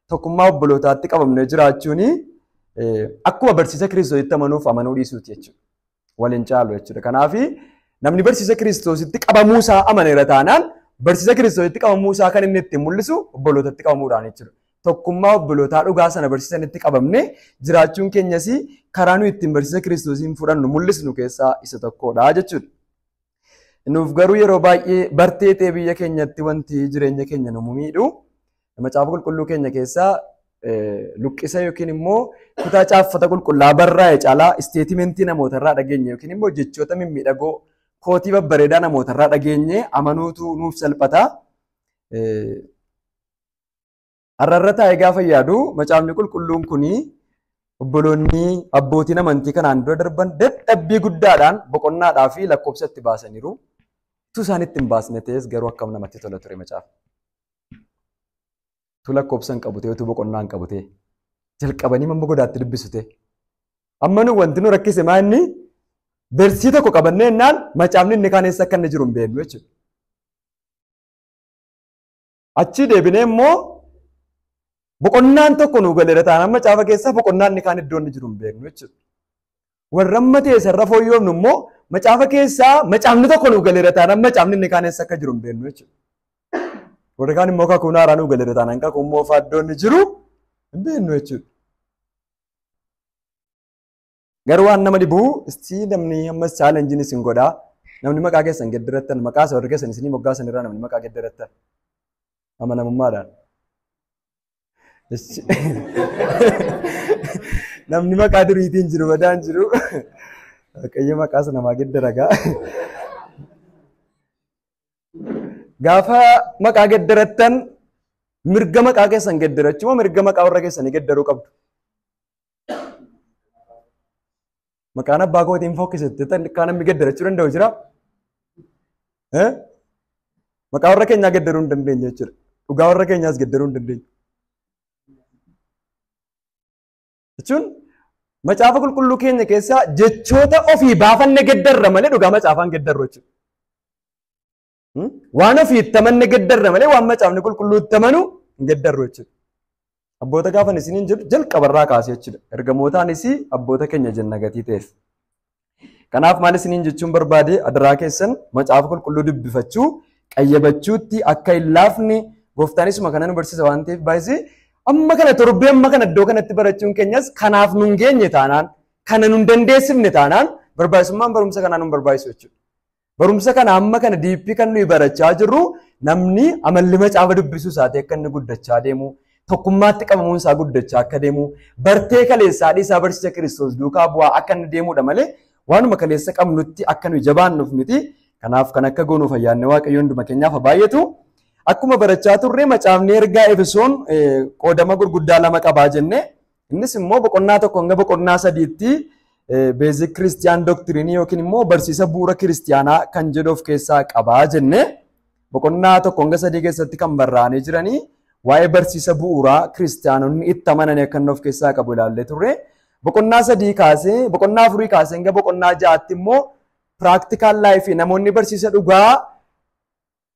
tokkummaa obbolootaatti qabamnee jiraachuun akkuma barsiisa kiristoositti amanuuf amanuu dhiisuuti jechuudha. Waliin caalu jechuudha. Kanaaf namni barsiisa kiristoositti qabamuu isaa amaneera taanaan barsiisa kiristoositti qabamuu isaa kan inni ittiin mul'isu obbolootatti qabamuudhaan jechuudha. Tokkummaa obbolootaa dhugaa sana barsiisanitti qabamne jiraachuun keenyas karaa nuyi ittiin barsiisa kiristoosiin fudhannu mul'isnu keessaa isa tokkodha jechuudha. Nuuf garuu yeroo baay'ee bartee ta'e biyya keenyatti wanti jireenya keenya nu miidhu macaafa qulqulluu keenya keessaa luqqisa yookiin immoo kutaa caaffata qulqullaa barraa'e caalaa isteetimentii namoota irraa dhageenye yookiin immoo jechoota mimmiidhagoo kootii babbareedaa namoota irraa dhageenye amanuutu nuuf salphata. Har'a irra taa'ee gaafa yaadu macaafni qulqulluun kun obboloonni abbootiin amantii kanaan dura darban dadhabbii guddaadhaan boqonnaadhaa fi lakkoofsa itti baasaniiru. Utuu isaan itti hin baasne ta'es garuu akkam namatti tola ture macaafni. Utuu lakkoofsa hin qabu ta'e utuu boqonnaa hin qabu ta'e jalqabanii mamma godaatti dubbisu ta'e. Amma nu wanti nu rakkise maa inni bersii tokko qabannee innaan macaafni inni kaan eessa akka inni jiru hin beeknu jechuudha. Achii deebinee immoo boqonnaan tokko nu galeera ta'an amma caafa keessaa boqonnaan inni kaan iddoo inni jiru hin beeknu jechuudha. Warra amma ta'e sarara fooyyoomnu immoo macaafa keessaa macaafni tokko nu galeera ta'an amma macaafni inni kaan eessa akka jiru hin beeknu jechuudha. Warri kaan immoo kakuu haaraa nu galeera ta'an kakuu moofaa iddoo inni jiru hin beeknu jechuudha. Garuu waan nama dhibu istii namni amma challenge isin godha. Namni maqaa keessan gedderattan maqaa isa warri keessan isinii moggaasan irraa namni maqaa gedderattan. Amanamummaadhaan. Ishi- Namni maqaa duriitiin jiru badaan jiru. Waaqayyo maqaa sana namaa geddaragaa. Gaafa maqaa gedderattan mirga maqaa keessan gedderachuu moo mirga maqaa warra keessanii geddaruu qabdu? Maqaan abbaa kootiin fokkisette tan kaa namni gaddarachuu danda'u jira. Eh? Maqaa warra keenyaa gaddaruu hin dandeenye jechuudha. Dhugaa warra keenyaas gaddaruu hin dandeenye. Jechuun macaafa qulqulluu keenya keessaa jechoota ofii baafanne gaddarra malee dhugaa macaafaan gaddarru jechuudha. Waan ofii itti amanne geddarra malee waan macaafni qulqulluu itti amanu hin geddarru jechuudha. Abboota gaafan isiniin jedhu jalqabarraa kaasee jechuudha. Ergamootaanis abboota keenya jenna gatii ta'eef. Kanaaf maal isiniin jechuun barbaade adaraa keessan macaafa qulqulluu dubbifachuu qayyabachuutti akka hin laafne gooftaanisuma kana nu barsiisa waan ta'eef baay'isee amma kana torbee amma kana iddoo kanatti barachuun keenyas kanaaf nun geenye taanaan kana nun dandeessifne taanaan barbaachisummaan barumsa kanaa nun barbaachisu jechuudha. Barumsa kana amma kana diippii kan nuyi barachaa jirru namni amalli macaafa dubbisuu isaatii akka inni guddachaa deemu tokkummaatti qabamuun isaa guddachaa akka deemu bartee kaleessaa dhiisaa barsiisa kiristoos duukaa bu'aa akka inni deemudha malee waanuma kaleessa qabnutti akka nuyi jabaannuuf miti kanaaf kan akka goonuuf ayyaanni waaqayyoo hunduma keenyaaf haa baay'atu. Akkuma barachaa turre macaafni ergaa Efesoon qoodama gurguddaa lama qabaa jennee Innis immoo boqonnaa tokko hanga boqonnaa sadiitti beezik kiristiyaan doktiriinii yookiin immoo barsiisa bu'uura kiristiyaanaa kan jedhu of keessaa qabaa jenne boqonnaa tokko hanga sadii keessatti kan barraa'anii jiranii waa'ee barsiisa bu'uuraa kiristiyaanonni itti amananii akka inni of keessaa qabu ilaallee turre. Boqonnaa sadii kaasee boqonnaa afurii kaasee hanga boqonnaa ja'aatti immoo piraaktikaan laayifii namoonni barsiisa dhugaa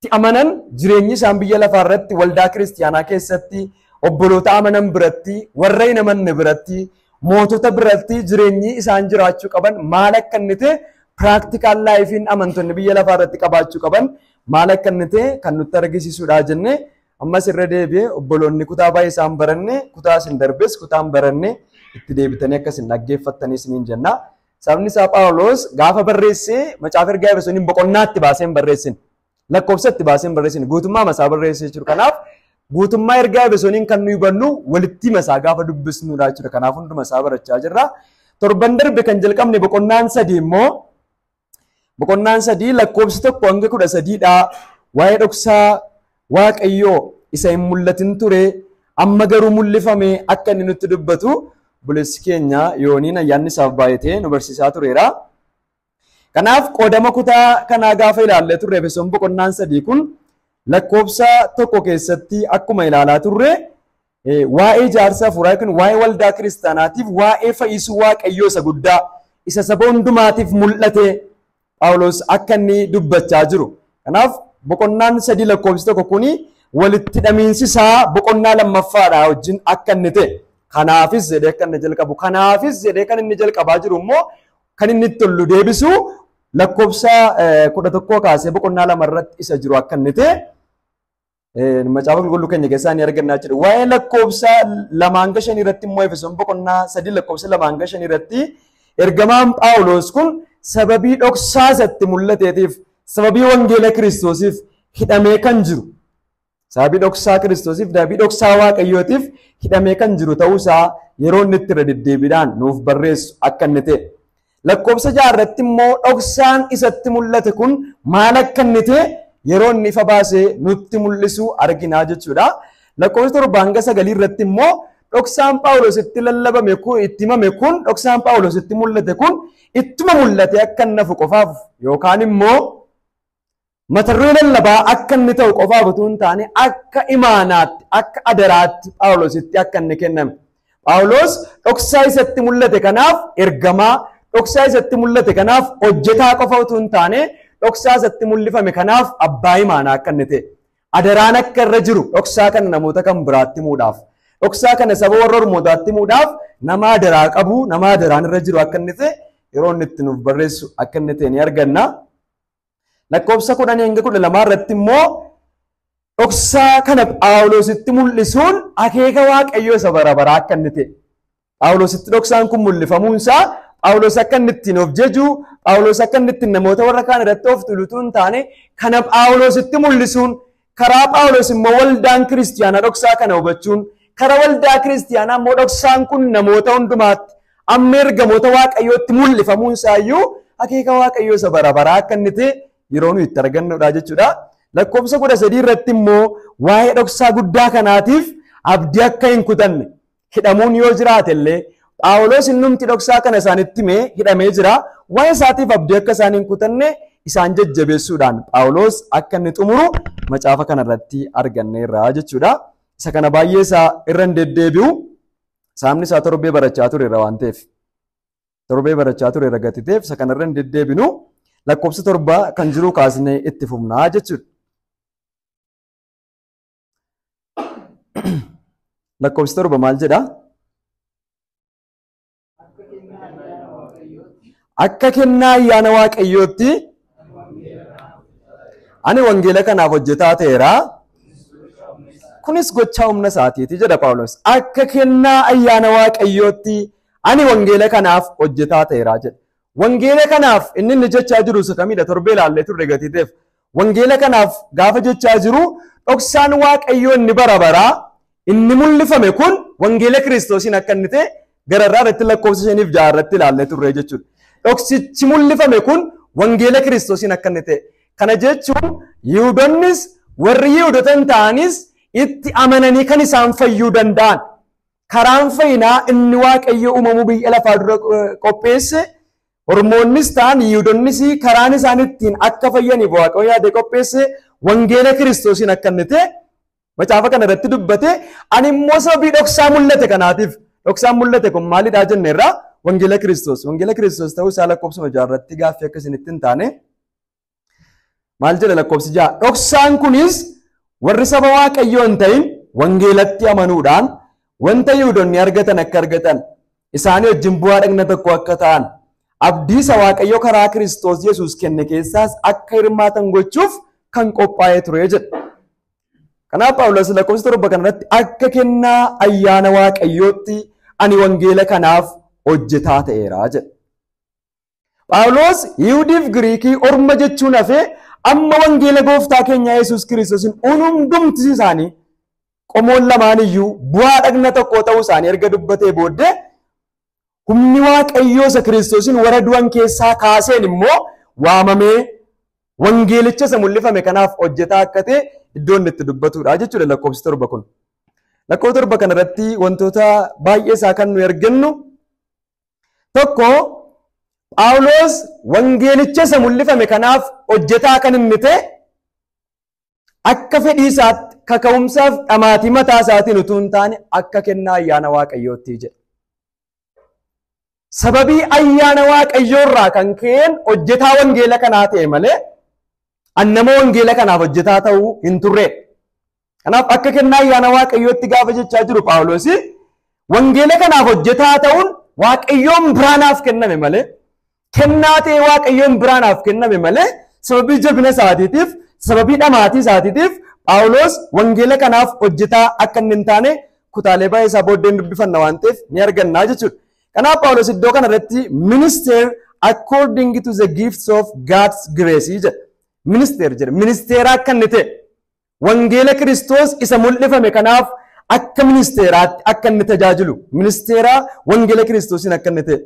tti amanan jireenyi isaan biyya lafaa irratti waldaa kiristiyaanaa keessatti, obboloota amanan biratti, warra hin amanne biratti, mootota biratti jireenyi isaan jiraachuu qaban maal akka inni ta'e piraaktikaan laayifiin amantonni biyya lafaa irratti qabaachuu qaban maal akka inni ta'e kan nutti argisiisudha jennee ammas irra deebi'ee obboloonni kutaa baay'ee isaan baranne kutaa isin darbes kutaan baranne itti deebitanii akka isin dhaggeeffattanis niin jenna. Sababni isaa Phaawulos gaafa barreessee macaafa ergaa Efesooniin boqonnaatti baasee hin barreessin. Lakkoofsatti baasee hin barreessin. Guutummaa masaa barreessee jiru. Kanaaf guutummaa ergaa Efesooniin kan nuyi hubannu walitti masaa gaafa dubbisnudha jechuudha. Kanaaf hunduma isaa barachaa jirra. Torban darbe kan jalqabne boqonnaan sadii immoo boqonnaan sadii lakkoofsi tokko hanga kudha sadiidha. Waa'ee dhoksaa Waaqayyoo isa hin mul'atin ture amma garuu mul'ifame akka inni nutti dubbatu buleessi keenya yooniin ayyaanni isaaf baay'atee nu barsiisaa tureera. Kanaaf qoodama kutaa kanaa gaafa ilaallee turre Efesoon boqonnaan sadii kun lakkoofsa tokko keessatti akkuma ilaalaa turre Waa'ee jaarsa hafuuraa yookiin waa'ee waldaa kiristaanaatiif waa'ee fayyisuu waaqayyoo isa guddaa isa saba hundumaatiif mul'ate Phaawulos akka inni dubbachaa jiru. Kanaaf boqonnaan sadii lakkoofsi tokko kuni walitti hidhamiinsi isaa boqonnaa lammaffaadha wajjin akka inni ta'e. Kanaafis jedhee akka inni jalqabu. Kanaafis jedhee kan inni jalqabaa jiru immoo kan inni itti tollu deebisu lakkoofsa kudha tokkoo kaasee boqonnaa lama irratti isa jiru akka inni ta'e Macaafa qulqulluu keenya keessaa ni argannaa jedhu. Waa'ee lakkoofsa lamaa hanga shanii irratti immoo Efesoon boqonnaa sadii lakkoofsa lamaa hanga shanii irratti ergamaan Phaawulos kun sababii dhoksaa isatti mul'ateetiif sababii wangeela kiristoosiif hidhamee kan jiru sababii dhoksaa kiristoosiif sababii dhoksaa waaqayyootiif hidhamee kan jiru ta'uusaa yeroo inni itti irra deddeebiidhaan nuuf barreessu akka inni ta'e. Lakkoofsa ja'a irratti immoo dhoksaan isatti mul'ate kun maal akka inni ta'e yeroo inni ifa baasee nutti mul'isu arginaa jechuudha. Lakkoofsa torba hanga sagalii irratti immoo dhoksaan Phaawulos itti lallabame kun itti himame kun dhoksaan Phaawulos itti mul'ate kun ittuma mul'ate akka inni hafu qofaaf yookaan immoo Mata duree lallabaa akka inni ta'u qofaaf utuu hin taane akka imaanaatti, akka adaraatti Phaawulositti akka inni kenname. Phaawulos dhoksaa isatti mul'ate kanaaf ergamaa, dhoksaa isatti mul'ate kanaaf hojjetaa qofa utuu hin taane dhoksaa isatti mul'ifame kanaaf abbaa imaanaa akka inni ta'e. Adaraan akka irra jiru dhoksaa kana namoota kan biraatti himuudhaaf. Dhoksaa kana saba warra ormootaatti himuudhaaf nama adaraa qabu, nama adaraan irra jiru akka inni ta'e yeroo inni itti nuuf barreessu akka inni ta'e ni arganna. Lakkoofsa 10-12 irratti immoo dhoksaa kana Phaawulositti mul'isuun akeeka Waaqayyoo isa bara baraa akka inni ta'e. Phaawulositti dhoksaan kun mul'ifamuun isaa Phaawulos akka inni ittiin of jaju, Phaawulos akka inni ittiin namoota warra kaan irratti of tuulutu hin taane, kana Phaawulositti mul'isuun Karaa Phaawulos immoo waldaan kiristiyaanaa dhoksaa kana hubachuun karaa waldaa kiristiyaanaa immoo dhoksaan kun namoota hundumaatti amma ergamoota waaqayyootti mul'ifamuun isaayyuu akeeka waaqayyoo isa bara baraa akka inni ta'e yeroo nuyi itti argannudha jechuudha. Lakkoofsa kudha sadii irratti immoo waa'ee dhoksaa guddaa kanaatiif abdii akka hin kutanne hidhamuun yoo jiraate illee Phaawulos innumti dhoksaa kana isaanitti himee hidhamee jira. Waa'ee isaatiif abdii akka isaan hin kutanne isaan jajjabeessuudhaan Phaawulos akka inni xumuru macaafa kana irratti arganneerra jechuudha. Isa kana baay'ee isaa irra hin deddeebi'u. Saamni isaa torbee barachaa tureera waan ta'eef. Torbee barachaa tureera gati ta'eef isa kana irra hin deddeebinu lakkoofsa torba kan jiru kaasnee itti fufnaa jechuudha. Lakkoofsi torba maal jedha? Akka kennaa ayyaana Waaqayyootti ani wangeela kanaaf hojjetaa ta'eera. Kunis gochaa humna isaatiiti jedha Phaawulos. Akka kennaa ayyaana Waaqayyootti ani wangeela kanaaf hojjetaa ta'eera jedha. Wangeela kanaaf inni inni jechaa jiru isa kamidha? Torbee ilaallee turre gatiiteef. Wangeela kanaaf gaafa jechaa jiru dhoksaan Waaqayyoo inni bara baraa inni mul'ifame kun wangeela Kiristoosiin akka inni ta'e gararraa irratti lakkoofsa shaniif ja'a irratti ilaallee turre jechuudha. Dhoksichi mul'ifame kun wangeela Kiristoosiin akka inni ta'e. Kana jechuun Yihuudonnis warri Yihuudota hin ta'anis itti amananii kan isaan fayyuu danda'an Karaan fayyinaa inni Waaqayyo uumamuu biyya lafaa dura qopheesse Ormoonnis ta'an Yihuudonnis karaan isaan ittiin akka fayyaniif Waaqayyo yaadee qopheesse wangeela Kiristoosiin akka inni ta'e macaafa kana irratti dubbate ani immoo sababii dhoksaa mul'ate kanaatiif dhoksaan mul'ate kun maalidhaa jenne irraa wangeela Kiristoos wangeela Kiristoos ta'uu isaa lakkoofsuma jaarratti gaaffii akka isinitti hin taane Maal jedha lakkoofsi ja'a? Dhoksaan kunis warri saba Waaqayyoo hin ta'in wangeelatti amanuudhaan wanta Yihuudonni argatan akka argatan isaanii wajjin bu'aa dhagna tokko akka ta'an abdii isa Waaqayyo karaa Kiristoos Yesuus kenne keessaas akka hirmaatan gochuuf kan qophaa'ee ture jedha. Kanaaf Phaawulos lakkoofsa torba kanarratti akka kennaa ayyaana Waaqayyootti ani wangeela kanaaf hojjetaa ta'eera jedha. Phaawulos Yihudiif Giriikii orma jechuun hafee amma wangeela gooftaa keenya Yesuus Kiristoosin uun hundumti isaanii qomoon lamaan iyyuu bu'aa dhagna tokkoo ta'uu isaanii erga dubbatee booddee humni waaqayyoo isa Kiristoosin warra du'an keessaa kaaseen immoo waamamee wangeelicha isa mul'ifame kanaaf hojjetaa akka ta'e iddoo inni itti dubbatudha jechuudha lakkoofsi torba kun. Lakkoofsa torba kanarratti wantoota baay'ee isaa kan nuyi argannu Tokko Phaawulos wangeelicha isa mul'ifame kanaaf hojjetaa kan inni ta'e akka fedhii isaatti kaka'umsaaf dhamaatii mataa isaatiin utuu hin taane akka kennaa ayyaana waaqayyootti jedha. Sababii ayyaana waaqayyoo irraa kan ka'een hojjetaa wangeela kanaa ta'e malee an nama wangeela kanaaf hojjetaa ta'uu hin turre. Kanaaf akka kennaa ayyaana Waaqayyootti gaafa jechaa jiru Phaawulos wangeela kanaaf hojjetaa ta'uun Waaqayyoon biraa naaf kenname malee kennaa ta'ee Waaqayyoon biraa naaf kenname malee sababii jabina isaatiitiif sababii dhamaatii isaatiitiif Phaawulos wangeela kanaaf hojjetaa akka inni hin taane kutaalee baay'ee isaa booddeen dubbifanna waan ta'eef ni argannaa jechuudha. Kanaaf Phaawulos iddoo kanarratti ministeer according to the gifts of God's grace jedha. Ministeer jedha. Ministeera akka inni ta'e. Wangeela Kiristoos isa mul'ifame kanaaf akka ministeeraatti akka inni tajaajilu, ministeeraa wangeela Kiristoosiin akka inni ta'e.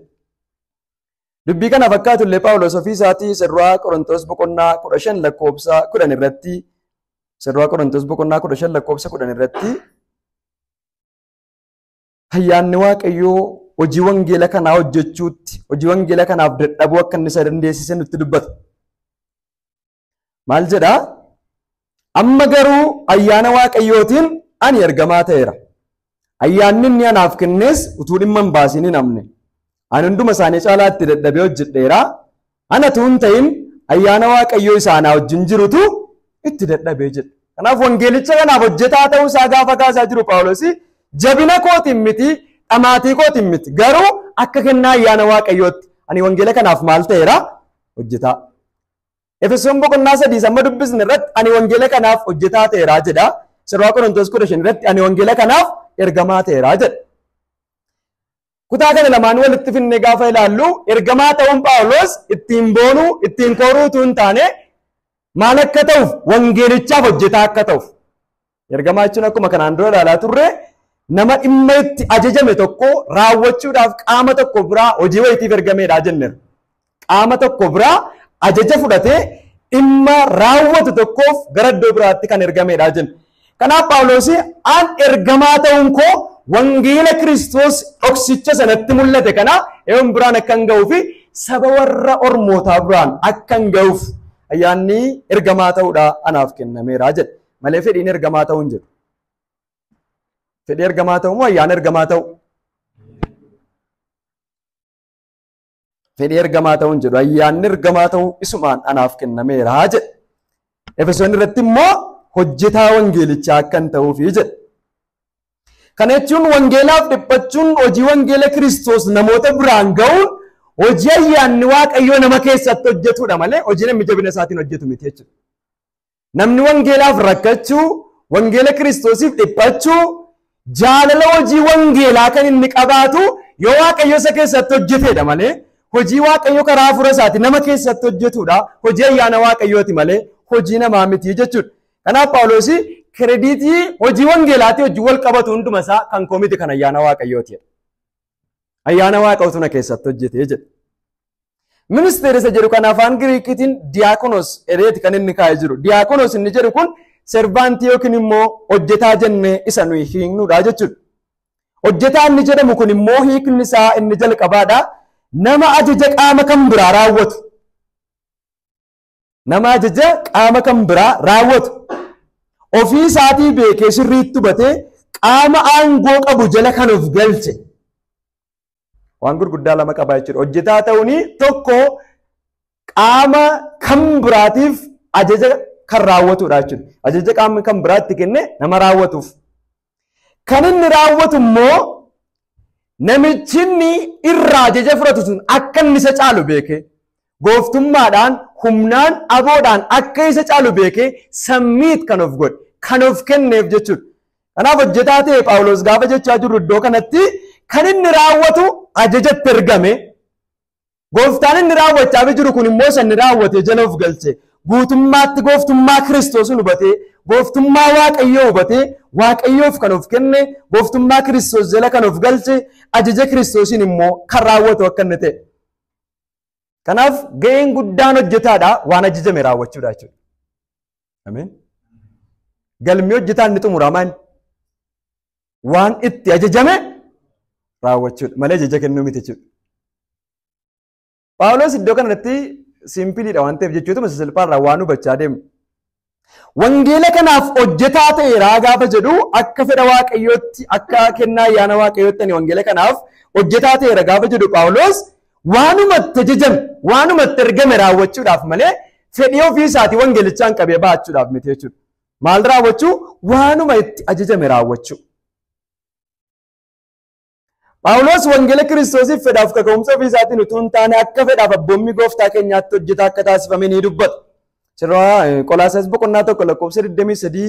Dubbii kana fakkaatu illee Phaawulos ofii isaatii isa duraa Qorontoos boqonnaa kudha shan lakkoofsa kudhan irratti isa duraa Qorontoos boqonnaa kudha shan lakkoofsa kudhan irratti ayyaanni Waaqayyoo hojii wangeela kanaa hojjechuutti hojii wangeela kanaaf dadhabuu akka inni isa dandeessise nutti dubbata. Maal jedhaa? Amma garuu ayyaana Waaqayyootiin ani ergamaa ta'eera. Ayyaanni inni anaaf kennes utuu dhimma hin baasin hin hafne. Ani hunduma isaanii caalaatti dadhabee hojjedheera. Ana utuu hin ta'in ayyaana Waaqayyoo isa anaa wajjin jirutu itti dadhabee jedhe. Kanaaf wangeelicha kanaaf hojjetaa ta'uu isaa gaafa kaasaa jiru Phaawulosi jabina kootiin miti dhamaatii kootiin miti garuu akka kennaa ayyaana Waaqayyootti ani wangeela kanaaf maal ta'eera hojjetaa. Efesoon boqonnaa sadii samma dubbisne irratti ani wangeela kanaaf hojjetaa ta'eeraa jedha. Sirraa Qorontoos kudha shan irratti ani wangeela kanaaf ergamaa ta'eeraa jedha. Kutaa kana lamaan walitti finnee gaafa ilaallu ergamaa ta'uun Phaawulos ittiin boonuu ittiin kooruu utuu hin taane maal akka ta'uuf wangeelichaaf hojjetaa akka ta'uuf Ergamaa jechuun akkuma kanaan dura ilaalaa turre nama dhimma itti ajajame tokko raawwachuudhaaf qaama tokko biraa hojii wayitiif ergameedha jenneera. Qaama tokko biraa ajaja fudhatee dhimma raawwatu tokkoof gara iddoo biraatti kan ergameedha jenna. Kanaaf Phaawulos an ergamaa ta'uun koo wangeela Kiristoos dhoksicha sanatti mul'ate kana eewwan biraan akkan ga'uu fi saba warra ormootaa biraan akkan ga'uuf ayyaanni ergamaa ta'uudha anaaf kennameera jedha. malee fedhiin ergamaa ta'uu hin jedhu. Fedhii ergamaa ta'uu moo ayyaana ergamaa ta'uu? Fedhii ergamaa ta'uu hin jedhu. Ayyaanni ergamaa ta'uu isumaan anaaf kennameera jedhe. Efesoon irratti immoo hojjetaa wangeelichaa akkan ta'uufi jedhe. Kana jechuun wangeelaaf dhiphachuun hojii wangeela Kiristoos namoota biraan ga'uun hojii ayyaanni Waaqayyoo nama keessatti hojjetudha malee hojii namni jabina isaatiin hojjetu miti jechuudha. Namni wangeelaaf rakkachuu, wangeela Kiristoosiif dhiphachuu, jaalala hojii wangeelaa kan inni qabaatu yoo Waaqayyo isa keessatti hojjeteedha malee hojii Waaqayyo karaa hafuura isaati nama keessatti hojjetuudha. Hojii ayyaana Waaqayyooti malee hojii namaa miti jechuudha. Kanaaf Phaawulos kirediitii hojii wangeelaatii hojii wal qabatu hunduma isaa kan koo miti kan ayyaana Waaqayyooti. Ayyaana waaqa utuna keessatti hojjetee jedhe. Ministeera isa jedhu kan afaan Giriikiitiin diyaakonos ereeti kan inni kaa'ee jiru. Diyaakonos inni jedhu kun servaantii yookiin immoo hojjetaa jennee isa nuyi hiiknudha jechuudha. Hojjetaa inni jedhamu kun immoo hiikni isaa inni jalqabaadha. Nama ajaja qaama kan biraa raawwatu. Nama ajaja qaama kan biraa raawwatu ofii isaatii beekee sirriitti hubatee qaama aangoo qabu jala kan of galche waan gurguddaa lama qabaa jechuudha. Hojjetaa ta'uun tokko qaama kan biraatiif ajaja kan raawwatudha jechuudha. Ajaja qaamni kan biraatti kenne nama raawwatuuf Kan inni raawwatu immoo namichi inni irraa ajaja fudhatu sun akka inni isa caalu beekee gooftummaadhaan humnaan aboodhaan akka isa caalu beekee sammiit kan of godhe kan of kenneef jechuudha. Kanaaf hojjetaa ta'e Phaawulos gaafa jechaa jirru iddoo kanatti kan inni raawwatu ajajatti ergame Gooftaan inni raawwachaafii jiru kun immoo isa inni raawwatee jala of galche guutummaatti gooftummaa Kiristoosin hubatee gooftummaa Waaqayyoo hubatee Waaqayyoof kan of kenne gooftummaa Kiristoos jala kan of galche ajaja Kiristoosiin immoo kan raawwatu akka inni ta'e. Kanaaf ga'een guddaan hojjetaadha waan ajajame raawwachuudha jechuudha. Ameen. Galmi hojjetaan ni xumurama inni. waan itti ajajame raawwachuudha malee ajaja kennuu miti jechuudha. Phaawulos iddoo kanatti simpiliidha waan ta'eef jechuutuma sasalphaarraa waan hubachaa deemu. Wangeela kanaaf hojjetaa ta'e raa gaafa jedhu akka fedha waaqayyootti akka kennaa ayyaana waaqayyootti ani wangeela kanaaf hojjetaa ta'e raa gaafa jedhu Phaawulos waanuma itti ajajame waanuma itti ergame raawwachuudhaaf malee fedhii ofii isaatii wangeelichaan qabee ba'achuudhaaf miti jechuudha. Maal raawwachuu? Waanuma itti ajajame raawwachuu. Phaawulos wangeela Kiristoosiif fedhaaf kaka'umsa ofii isaatiin utuu hin taane akka fedhaaf abboommii gooftaa keenyaatti hojjetaa akka taasifame ni dubbata. Sirraa Qolaasaas boqonnaa tokko lakkoofsa 23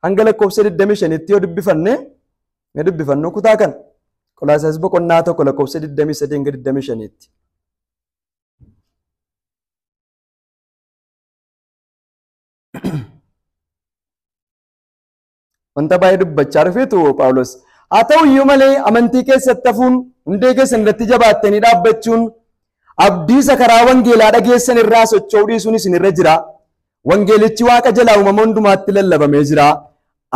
hanga lakkoofsa 25tti yoo dubbifanne ni dubbifannu kutaa kana. Qolaasaas boqonnaa tokko lakkoofsa 23 hanga 25tti. Wanta baay'ee dubbachaa dhufeetu Phaawulos. Haa ta'u iyyuu malee amantii keessatti hafuun hundee keessan irratti jabaattanii dhaabbachuun abdiisa karaa wangeelaa dhageessan irraa socho'uu dhiisuun isin irra jira. Wangeelichi waaqa jalaa uumama hundumaatti lallabamee jira.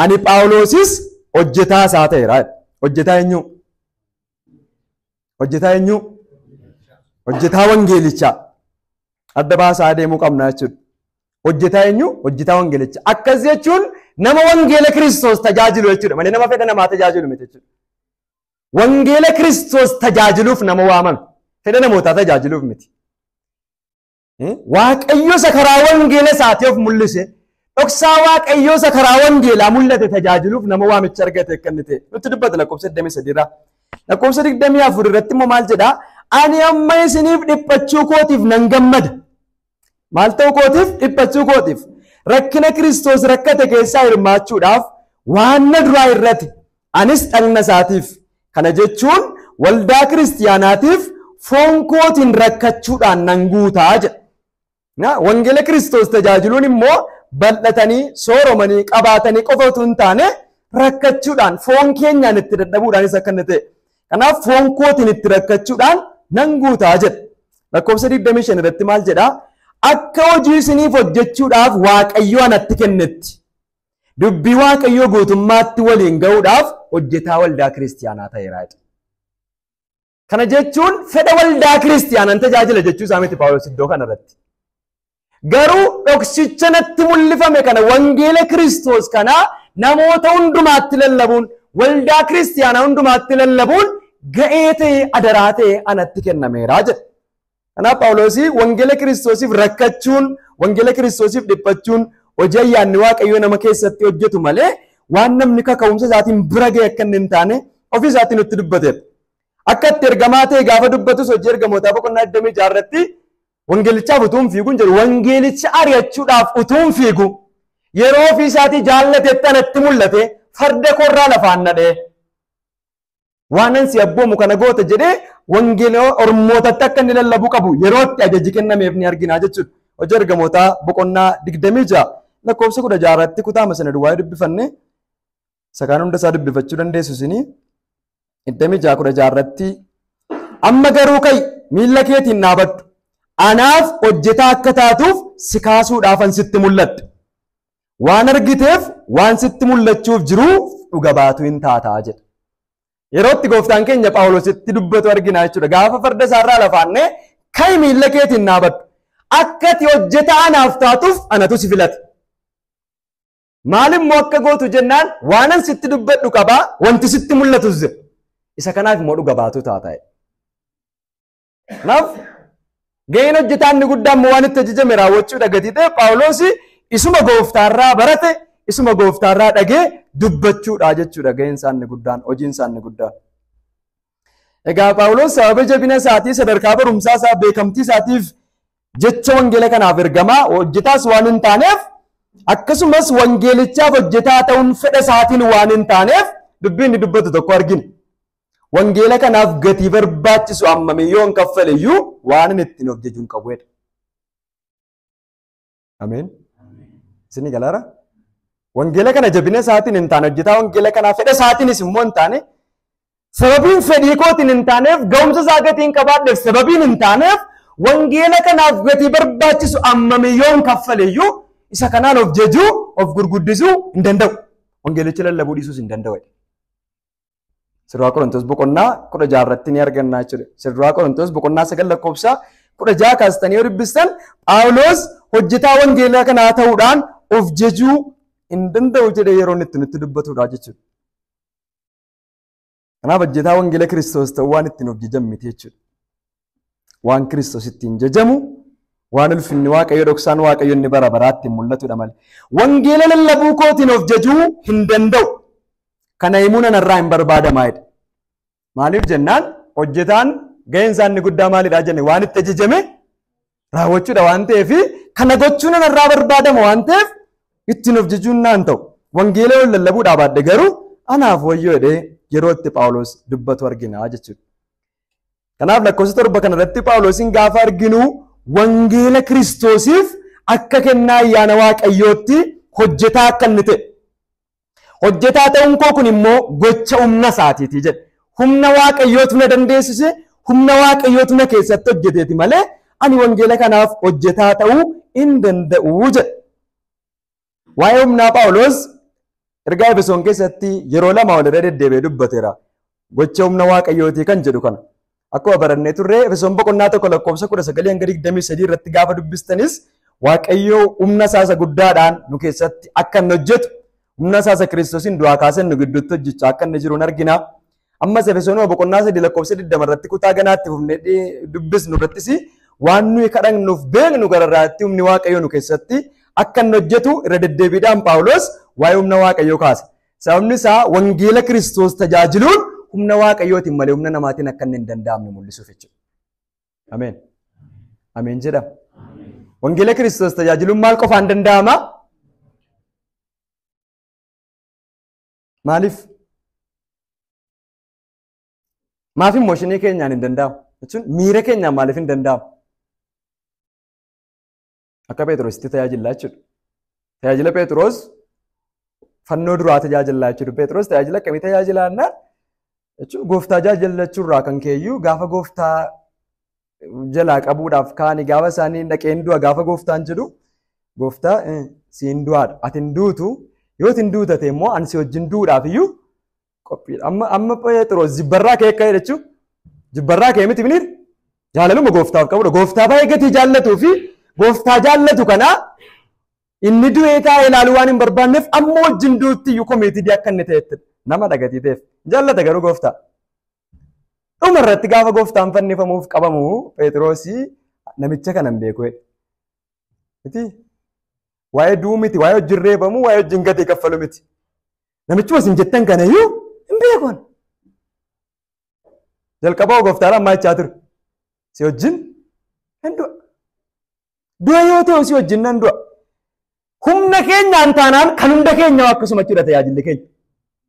Ani Phaawulosis hojjetaa isaa ta'eera. Hojjetaa eenyuu? Hojjetaa eenyuu? Hojjetaa wangeelichaa. Adda baasaa adeemuu qabna jechuudha. Hojjetaa eenyuu? Hojjetaa wangeelichaa. Akkas jechuun nama wangeela Kiristoos tajaajilu jechuudha. Malee nama fedha namaa tajaajilu miti jechuudha. Wangeela Kiristoos tajaajiluuf nama waamame. Fedha namootaa tajaajiluuf miti. Waaqayyo isa karaa wangeela isaati of mul'ise dhoksaa waaqayyo isa karaa wangeelaa mul'ate tajaajiluuf nama waamicha argate akka inni ta'e nutti dubbata lakkoofsa 23 irraa. Lakkoofsa 24 irratti immoo maal jedhaa? Ani amma isiniif dhiphachuu kootiif nan gammada. Maal ta'uu kootiif? Dhiphachuu kootiif. Rakkina Kiristoos rakkate keessaa hirmaachuudhaaf waan na duraa irratti Anis dhagna isaatiif, kana jechuun waldaa kiristiyaanaatiif foon kootiin rakkachuudhaan nan guuta jedha. Na, Wangeela Kiristoos tajaajiluun immoo bal'atanii, sooromanii, qabaatanii qofa utuu hin taane rakkachuudhaan, foon keenyaan itti dadhabuudhaanis akka inni ta'e. Kanaaf foon kootiin itti rakkachuudhaan nan guuta jedha. Lakkoofsa 25 irratti maal jedha? Akka hojii isiniif hojjechuudhaaf Waaqayyo anatti kennetti. Dubbii Waaqayyoo guutummaatti waliin ga'uudhaaf hojjetaa waldaa kiristiyaanaa ta'eera jedha. Kana jechuun fedha waldaa kiristiyaanaan tajaajila jechuu isaa miti Phaawulos iddoo kana irratti. Garuu dhoksicha natti mul'ifame kana wangeela Kiristoos kana namoota hundumaatti lallabuun waldaa kiristiyaanaa hundumaatti lallabuun ga'ee ta'ee adaraa ta'ee anatti kennameera jedha. Kanaaf Phaawuloos wangeela Kiristoosiif rakkachuun, wangeela Kiristoosiif dhiphachuun hojii ayyaanni Waaqayyoo nama keessatti hojjetu malee waan namni kaka'umsa isaatiin bira ga'e akka inni hin taane ofii isaatii nutti dubbateera. Akka itti ergamaa ta'e gaafa dubbatus hojii ergamootaa boqonnaa 26 irratti wangeelichaaf utuu hin fiiguun jedhu wangeelicha ari'achuudhaaf utuu hin fiigu yeroo ofii isaatii jaallatetti anatti mul'ate farda koorraa lafaan nadhee waanan si abboomu kana goota jedhee wangeela ormootatti akka inni lallabuu qabu yerootti ajaji kennameef ni argina jechuudha. Hojii ergamootaa boqonnaa digdamii ja'a lakkoofsa kudha ja'a irratti kutaama sana duwwaa dubbifanne sakaan hunda isaa dubbifachuu dandeessu isinii digdamii ja'a kudha ja'a irratti amma garuu ka'i miilla keetiin dhaabadhu anaaf hojjetaa akka taatuuf si kaasuudhaafan sitti mul'adhe. Waan argiteef waan sitti mul'achuuf jiruu dhuga baatuu hin taataa jedha. Yeroo itti gooftaan keenya Phaawulositti dubbatu arginaa jechuudha. Gaafa farda isaarraa lafaannee ka'i miilla keetiin dhaabadhu. Akka ati hojjetaa anaaf taatuuf anatu si filate. Maalimmoo akka gootu jennaan waanan sitti dubbadhu qabaa wanti sitti mul'atus jira. Isa kanaaf immoo dhuga baatuu taataa. Kanaaf gaheen hojjetaa inni guddaan immoo waan itti ajajame raawwachuudha gatii ta'e Phaawulos isuma gooftaarraa barate isuma gooftaarraa dhagee dubbachuudha jechuudha gaheen isaa inni guddaan hojiin isaa inni guddaan. Egaa Phaawulos sababa jabina isaatii sadarkaa barumsaa isaa beekamtii isaatiif jecha wangeela kanaaf ergamaa hojjetaas waan hin taaneef akkasumas wangeelichaaf hojjetaa ta'uun fedha isaatiin waan hin taaneef dubbii inni dubbatu tokko argina. Wangeela kanaaf gatii barbaachisu hammamii yoon kaffale iyyuu waan inni ittiin of jajuun qabu jedha. Ameen. Isin galaara? Wangeela kana jabina isaatiin hin taane hojjetaa wangeela kanaa fedha isaatiinis immoo hin taane sababiin fedhii kootiin hin taaneef ga'umsa isaa gatiin qabaadheef sababiin hin taaneef wangeela kanaaf gatii barbaachisu hammamii yoon kaffale iyyuu isa kanaan of jajuu of gurguddisuu hin danda'u. Wangeelicha lallabuu dhiisuus hin danda'u. Sirraa Qorontoos boqonnaa kudha jaha irratti ni arganna jechuudha. Sirraa Qorontoos boqonnaa sagal lakkoofsa kudha jaha kaastanii yoo dubbistan Phaawuloos hojjetaa wangeelaa kanaa ta'uudhaan of jejuu hin danda'u jedhee yeroo inni itti nutti dubbatudha jechuudha. Kanaaf hojjetaa wangeela Kiristoos ta'uu waan ittiin of jejan miti jechuudha. waan Kiristoos ittiin jajamu waan ulfinni Waaqayyo dhoksaan Waaqayyo inni bara baraatti mul'atudha malee. Wangeela lallabuu kootiin of jajuu hin danda'u. Kana himuu nan irraa hin barbaadamaa jedhe. Maaliif jennaan hojjetaan gaheen isaa inni guddaa maalidhaa jenne waan itti ajajame raawwachuudha waan ta'eef kana gochuun nan irraa barbaadama waan ta'eef ittiin of jajuun naan ta'u. Wangeela yoo lallabuudhaa baadhe garuu anaaf wayyoo jedhee yeroo itti Phaawulos dubbatu argina jechuudha. Kanaaf lakkoofsa torba kana irratti Phaawulosiin gaafa arginu wangeela Kiristoosiif akka kennaa ayyaana Waaqayyootti hojjetaa akka inni ta'e. Hojjetaa ta'uun koo kun immoo gocha humna isaatiiti jedhe. Humna Waaqayyootu na dandeessise, humna Waaqayyootu na keessatti hojjeteeti malee ani wangeela kanaaf hojjetaa ta'uu hin danda'u jedhe. Waa'ee humnaa Phaawulos ergaa Efesoon keessatti yeroo lama walirra deddeebi'ee dubbateera. Gocha humna Waaqayyootii kan jedhu kana. Akkuma barannee turre Efesoon boqonnaa tokko lakkoofsa kudha sagalii hanga digdamii sadii irratti gaafa dubbistanis Waaqayyo humna isaasa guddaadhaan nu keessatti akka inni hojjetu humna isaasa Kiristoosiin du'aa kaasee nu gidduutti hojjechaa akka inni jiru argina. Ammas Efesoonuma boqonnaa sadii lakkoofsa 20 irratti kutaa ganaatti fufnee dubbisnu irrattis waan nuyi kadhannuuf beeknu gararraatti humni Waaqayyoo nu keessatti akka inni hojjetu irra deddeebiidhaan Phaawulos waa'ee humna Waaqayyoo kaasa. Sababni isaa wangeela Kiristoos tajaajiluun humna Waaqayyootiin malee humna namaatiin akka inni hin danda'amne mul'isuuf jechuudha. Ameen. Ameen jedha. Wangeela Kiristoos tajaajiluun maal qofaan danda'ama? Maaliif? Maaf immooshinii keenyaan hin danda'amu? Jechuun miira keenyaan maaliif hin danda'amu? Akka Pheexroositti tajaajillaa jechuudha. Tajaajila Pheexroos fannoo duraa tajaajillaa jechuudha. Pheexroos tajaajila akkamii tajaajilaannaa? Jechuun gooftaa tajaajilachuurraa kan keeyyuu gaafa gooftaa jalaa qabuudhaaf kaani gaafa isaanii dhaqeen du'a gaafa gooftaan jedhu gooftaa eh, siin du'aadha ati hin duutu yoo ati hin duutu ta'e immoo ani si wajjin du'uudhaaf iyyuu qophiidha amma amma Pheexiroos jibbarraa kee akka jedhachu jibbarraa kee miti miniir jaalaluma gooftaaf qabudha gooftaa baay'ee gatii jaallatuu fi gooftaa jaallatu kanaa inni du'ee taa'ee ilaaluu waan hin barbaanneef amma wajjin duutti iyyuu komiitidii akka inni ta'etti nama dhagatii ta'eef jaallata garuu gooftaa Dhuma irratti gaafa gooftaan fannifamuuf qabamu Pheexiroosi namicha kana hin beeku jedhe. Miti? Waa'ee du'uu miti, waa'ee wajjin reebamu, waa'ee wajjin gatii kaffalu miti. Namichuma isin jettan kana iyyuu hin beeku. ani. Jalqaba gooftaan ammaa jechaa ture. Si wajjin hin du'a. Du'a yoo ta'u si wajjin nan du'a. Humna keenyaan taanaan kan hunda keenyaa akkasuma jechuudha tajaajilli keenya.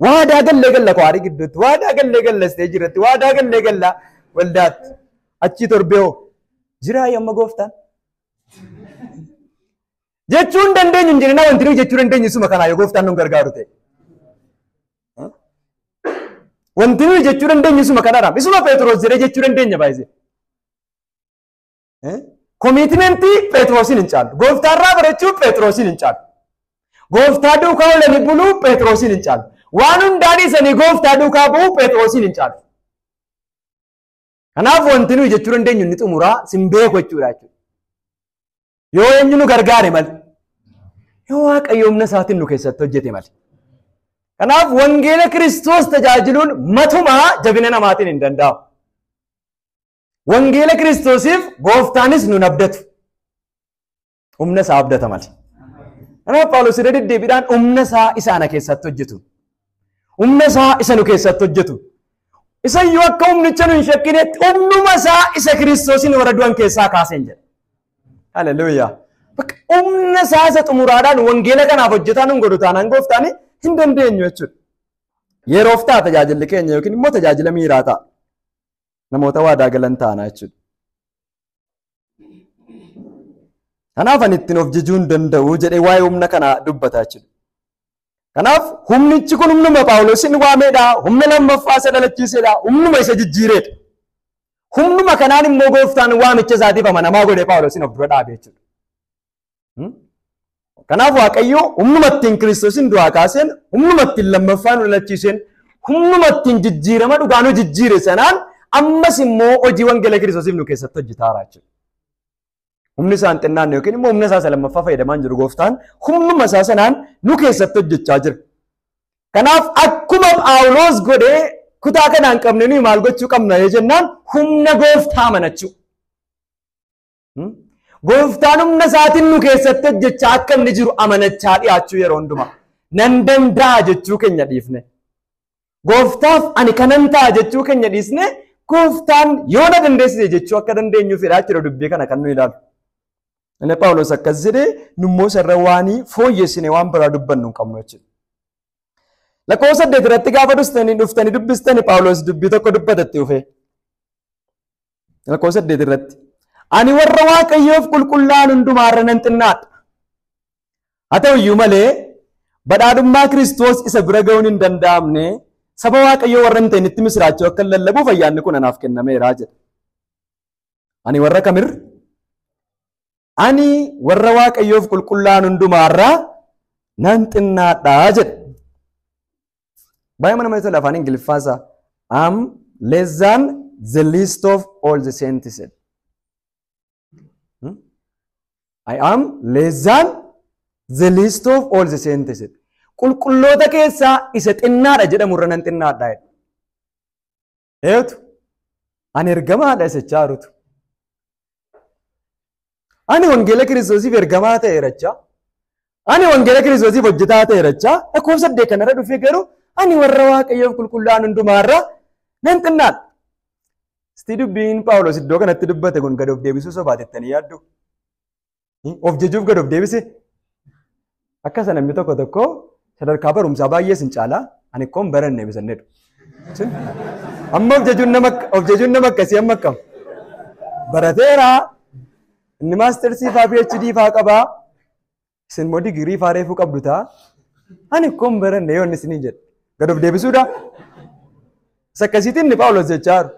Waadaa gallee galla kwaarii gidduutti, waadaa gallee galla isteejii irratti, waadaa gallee galla waldaatti. Achii torbee hoo jiraa yamma gooftaan. Jechuun dandeenyu hin jirina wanti nuyi jechuu dandeenyu suma kanaa yoo gooftaan nu gargaaru ta'e. Wanti nuyi jechuu dandeenyu suma kanadha. Isuma Pheexroos jedhee jechuu dandeenya baay'isee. Komiitimentii Pheexroosiin hin caalu. Gooftaarraa barachuu Pheexroosiin hin caalu. Gooftaa duukaa oolanii buluu Pheexroosiin hin caalu. Waan hundaan isanii gooftaa duukaa bu'uu Pheexroosiin hin caalu. Kanaaf wanti nuyi jechuu dandeenyu inni xumuraa sin beeku jechuudha jechuudha. Yoo eenyu nu gargaare malee. Yoo waaqayyo humna isaatiin nu keessatti hojjete malee. Kanaaf wangeela Kiristoos tajaajiluun matumaa jabina namaatiin hin danda'amu. Wangeela Kiristoosiif gooftaanis nun abdatu. Humna isaa abdata malee. Kanaaf Phaawulos irra deddeebiidhaan humna isaa isa ana keessatti hojjetu. Humna isaa isa nu keessatti hojjetu. Isa iyyuu akka humnicha nu hin shakkinetti humnuma isaa isa Kiristoosiin warra du'an keessaa kaaseen jedha. Haleluuyaa. Bakka humna isaa isa xumuraadhaan wangeela kanaaf hojjetaa nun godhu taanaan gooftaan hin dandeenyu jechuudha. Yeroof ta'a tajaajilli keenya yookiin immoo tajaajila miiraa ta'a. namoota waadaa galan taana jechuudha. Kanaaf ani ittiin of jijuu hin danda'u jedhee waa'ee humna kanaa dubbata jechuudha. Kanaaf humnichi kun humnuma Phaawulosiin waameedha, humna lammaffaa isa dhalachiiseedha, humnuma isa jijjiireedha. Humnuma kanaan immoo gooftaan waamicha isaatiif amanamaa godhee Phaawulosiin of dura dhaabe jechuudha. Kanaaf Waaqayyo humnuma ittiin Kiristoosin du'aa kaaseen, humnuma ittiin lammaffaa nu dhalachiiseen, humnuma ittiin jijjiirama dhugaa nu jijjiire sanaan ammas immoo hojii wangeela Kiristoosiif nu keessatti hojjetaara jechuudha. Humni isaan xinnaan yookiin immoo humna isaa isa lammaffaa fayyadamaan jiru gooftaan humnuma isaa sanaan nu keessatti hojjechaa jira. Kanaaf akkuma Phaawuloos godhee kutaa kanaan qabne nuyi maal gochuu qabna yoo jennaan humna gooftaa amanachuu. Gooftaan humna isaatiin nu keessatti hojjechaa akka inni jiru amanachaa dhiyaachuu yeroo hundumaa nan danda'a jechuu keenya dhiifne. Gooftaaf ani kanan ta'a jechuu keenya dhiisne gooftaan yoo na dandeessise jechuu akka dandeenyuuf jedhaa jira dubbii kana kan nu ilaalu. Inni Phaawulos akkas jedhee nummoo sarara waanii fooyyessine waan biraa dubbannu hin qabnu jechuudha. Lakkoofsa saddeet irratti gaafa dhuftanii dhuftanii dubbistanii Phaawulos dubbii tokko dubbatetti dhufee. Lakkoofsa saddeet irratti. Ani warra Waaqayyoof qulqullaa'an hundumaa irra nan xinnaadha. Haa ta'u iyyuu malee badhaadhummaa Kiristoos isa bira ga'uun hin danda'amne saba Waaqayyoo warra hin ta'initti misiraachoo akka lallabuuf ayyaanni kun anaaf kennameera jedha. Ani warra kamirra? Ani warra Waaqayyoof qulqullaa'an hundumaa irraa nan xinnaadha jedhe. Baay'ee mana namatti tola afaan Ingiliffaa isaa. Am less than the least of all the saints jedhe. Hmm? I am less than the least of all the saints jedhe. Qulqulloota keessaa isa xinnaadha jedhamu irra nan xinnaadha jedhe. Eetu ani ergamaadha isachaa rutu. Ani wangeela kiristoosiif ergamaa ta'e irachaa. Ani wangeela kiristoosiif hojjetaa ta'e irachaa. Lakkoofsa saddeet kanarra dhufee garuu ani warra waaqayyoof qulqullaa'an hundumaarra nan xinnaadha. Sitii dubbiin Phaawulos iddoo kanatti dubbate kun gad of deebisuu sobaate jettanii yaaddu. Of jejuuf gad of deebise. Akka sana namni tokko tokko sadarkaa barumsaa baay'ee sin caalaa ani koon baranne eebisannedha. Amma of jejuun nama of jejuun nama akkasii amma akkam. Barateera inni maastersii faa PhD faa qabaa isin immoo digirii faa reefuu qabdu ta'a. Ani koon baranne yoo inni isiniin jedhe gad of deebisuudhaa. Isa akkasiitiin inni Phaawulos jechaa jiru.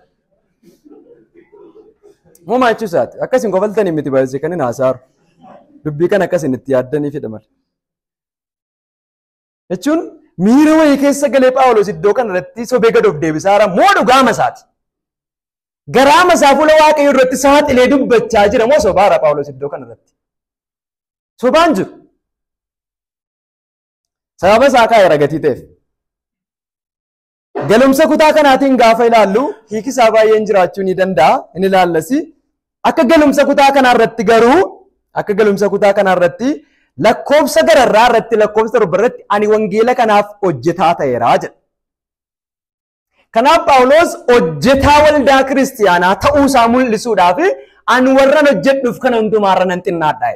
Muumaa jechuu isaati. Akkas hin kofaltanii miti baay'isee kan hin haasaaru. Dubbii kana akkas hin itti yaaddanii fidha malee. Jechuun miira wayii keessa galee Phaawulos iddoo kana irratti sobee gad of deebisaa jira moo dhugaama isaati. Garaama isaa fuula waaqayyoo irratti saaxilee dubbachaa jira moo sobaara Phaawulos iddoo kana irratti. Sobaan jiru. Sababa isaa kaa'eera gatii ta'eef. Galumsa kutaa kanaatiin gaafa ilaallu hiiki isaa baay'een jiraachuu ni danda'a hin ilaallasi. Akka galumsa kutaa kanaa irratti garuu akka galumsa kutaa kanaa irratti lakkoofsa gararraa irratti lakkoofsa torba irratti ani wangeela kanaaf hojjetaa ta'eera jedha. Kanaaf Phaawulos hojjetaa waldaa kiristiyaanaa ta'uu isaa mul'isuudhaaf ani warran hojjedhuuf kana hundumaarra nan xinnaadha.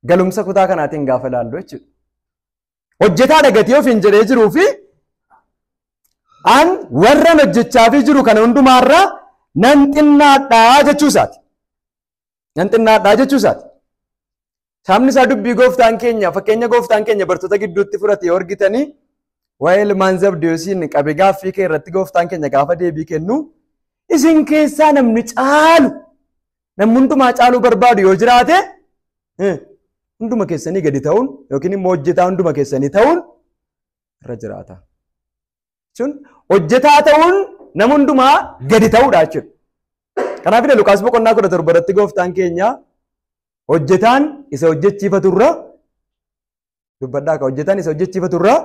Galumsa kutaa kanaatiin gaafa ilaallu jechuudha. Hojjetaa dhagatee ofiin jedhee jiruu fi an warran hojjechaa fi jiru kana hundumaarraa nan xinnaadhaa jechuu isaati. Nan xinnaadhaa jechuu isaati. Sabni isaa dubbii gooftaan keenya fakkeenya gooftaan keenya bartoota gidduutti fudhate yoo argitanii waa'ee ilmaan zabdeesiin qabe gaaffii kee irratti gooftaan keenya gaafa deebii kennu isin keessaa namni caalu Namni hundumaa caaluu barbaadu yoo jiraate eh, hunduma keessanii gadi ta'uun yookiin immoo hojjetaa hunduma keessanii ta'uun irra jiraata. Jechuun hojjetaa ta'uun nama hundumaa gadi ta'uudha jechuudha. Kanaaf illee Lukaas boqonnaa kudha torba irratti gooftaan keenya hojjetaan isa hojjechiifatu irra dubbadhaa ka hojjetan isa hojjechiifatu irraa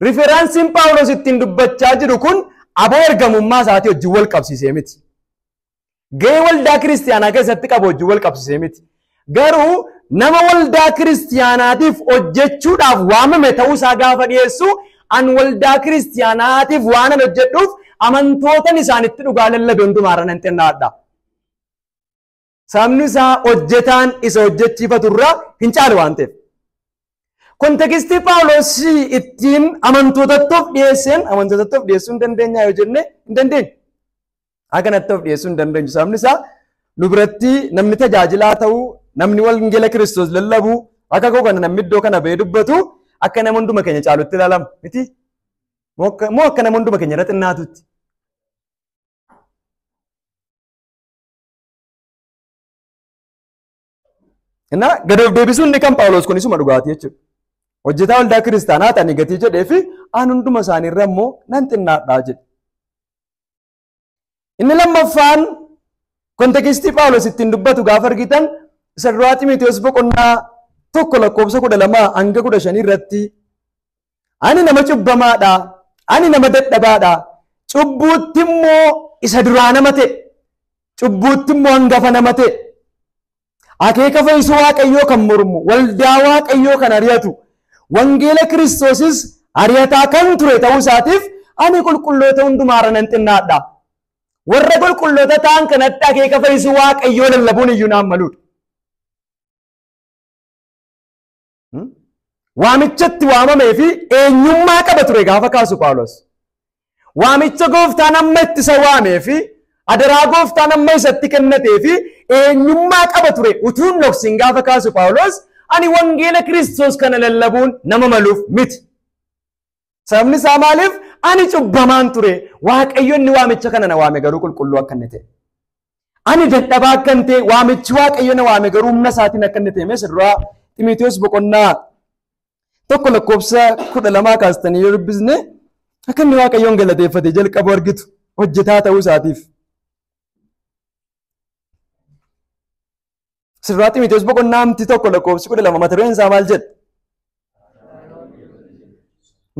riferansiin Phaawulos ittiin dubbachaa jiru kun aboo ergamummaa isaatii wajjin wal qabsiisee miti. Gahee waldaa kiristiyaanaa keessatti qabu wajjin wal qabsiisee miti. Garuu nama waldaa kiristiyaanaatiif hojjechuudhaaf waamame ta'uu isaa gaafa dhiyeessu an waldaa kiristiyaanaatiif waanan hojjedhuuf amantootan isaanitti dhugaa lallabe hundumaarra nan xinnaadha. Sababni isaa hojjetaan isa hojjechiifatu irraa hin caalu waan ta'eef. Kontekistii Phaawulos ittiin amantootattu of dhiyeesseen amantootattu of dhiyeessuu hin dandeenyaa yoo jenne hin dandeenyu. Haa kanatti of dhiyeessuu hin dandeenyu. Sababni isaa nu biratti namni tajaajilaa ta'u namni wangeela Kiristoos lallabu akka koo kana namni iddoo kana ba'ee dubbatu akka nama hunduma keenya caalutti ilaalama miti. Moo akka- Moo akka nama hunduma keenya irra xinnaatutti. Innaa gad of deebisuun inni kan Phaawulos kun isuma dhugaatii jechuudha. Hojjetaa waldaa kiristaanaa ta'ani gatii jedhee fi aan hunduma isaanii irra immoo nan xinnaadhaa jedhe. Inni lammaffaan kontekistii Phaawulos ittiin dubbatu gaafa argitan isa duraa Ximiteewos boqonnaa tokko lakkoofsa kudha lama hanga kudha shanii irratti Ani nama cubbamaadha. Ani nama dadhabaadha. Cubbuutti immoo isa duraa nama ta'e. Cubbuutti immoo hangafa nama ta'e. Akeeka fayyisuu Waaqayyoo kan mormu, waldaa Waaqayyoo kan ari'atu, wangeela Kiristoosis ari'ataa kan ture ta'uu isaatiif ani qulqulloota hundumaarra nan xinnaadha. Warra qulqulloota ta'an kanatti akeeka fayyisuu Waaqayyoo lallabuun iyyuu naan maluudha. Waamichatti waamamee fi eenyummaa qaba ture gaafa kaasu Phaawulos. Waamicha gooftaan amma itti isa waamee fi adaraa gooftaan amma isatti kennatee fi eenyummaa qaba ture utuu hin dhoksin gaafa kaasu Phaawulos ani wangeela Kiristoos kana lallabuun nama maluuf miti. Sababni isaa maaliif? Ani cubbamaan ture. Waaqayyo inni waamicha kana na waame garuu qulqulluu akka inni ta'e. Ani dadhabaa akka inni ta'e waamichi Waaqayyo na waame garuu humna isaatiin akka inni ta'e mee isa duraa Ximiteewos boqonnaa tokko lakkoofsa kudha lamaa kaastanii yoo dubbisne akka inni Waaqayyoon galateeffate jalqabu argitu hojjetaa ta'uu isaatiif. Sirraa Ximiteewos boqonnaa amti tokko lakkoofsi kudha lama mata dureen isaa maal jedha?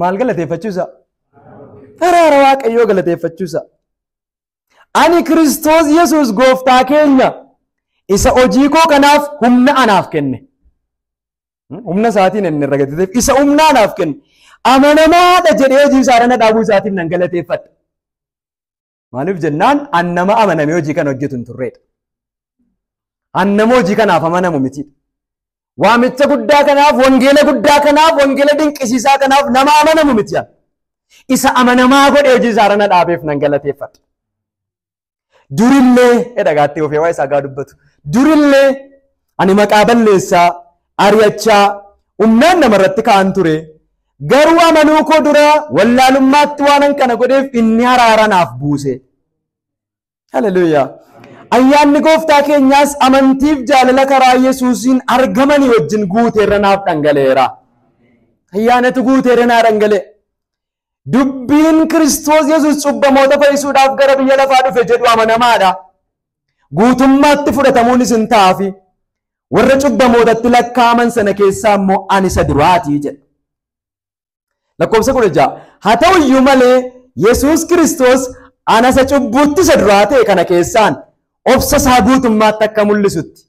Maal galateeffachuu isaa? Araara Waaqayyoo galateeffachuu isaa. Ani Kiristoos Yesuus gooftaa keenya isa hojii koo kanaaf humna anaaf kenne. Humna isaatiin inni irra gadi isa humna anaaf kenne. Amanamaadha jedhee hojii isaa irra na dhaabuu isaatiif nan galateeffadha. Maaliif jennaan an nama amanamee hojii kana hojjetu hin turreedha. An nama hojii kanaaf amanamu miti. Waamicha guddaa kanaaf, wangeela guddaa kanaaf, wangeela dinqisiisaa kanaaf nama amanamu miti. an. Isa amanamaa godhee hojii isaarra na dhaabeef nan galateeffadha. Durillee jedha gaatti ofee waa isaa gaa dubbatu. Durillee ani maqaa balleessaa ari'achaa, humnaan namarratti ka'an ture. Garuu amanuu koo dura wallaalummaatti waanan kana godheef inni haraara naaf buuse. Haleluuyaa! Ayyaanni gooftaa keenyaas amantiif jaalala karaa Yesuusiin argamanii wajjin guuteerra naaf dhangala'eera. Ayyaanatu guuteerra naa dhangala'e. Dubbiin Kiristoos Yesuus cubbamoota fayyisuudhaaf gara biyya lafaa dhufe jedhu amanamaadha. Guutummaatti fudhatamuunis hin ta'aafi. Warra cubbamootatti lakkaa'aman sana keessaa immoo ani isa duraati jedha. Lakkoofsa kudha ja'a. Haa ta'u iyyuu malee Yesuus Kiristoos ana isa cubbuutti isa duraa ta'e kana keessaan obsa isaa guutummaatti akka mul'isutti.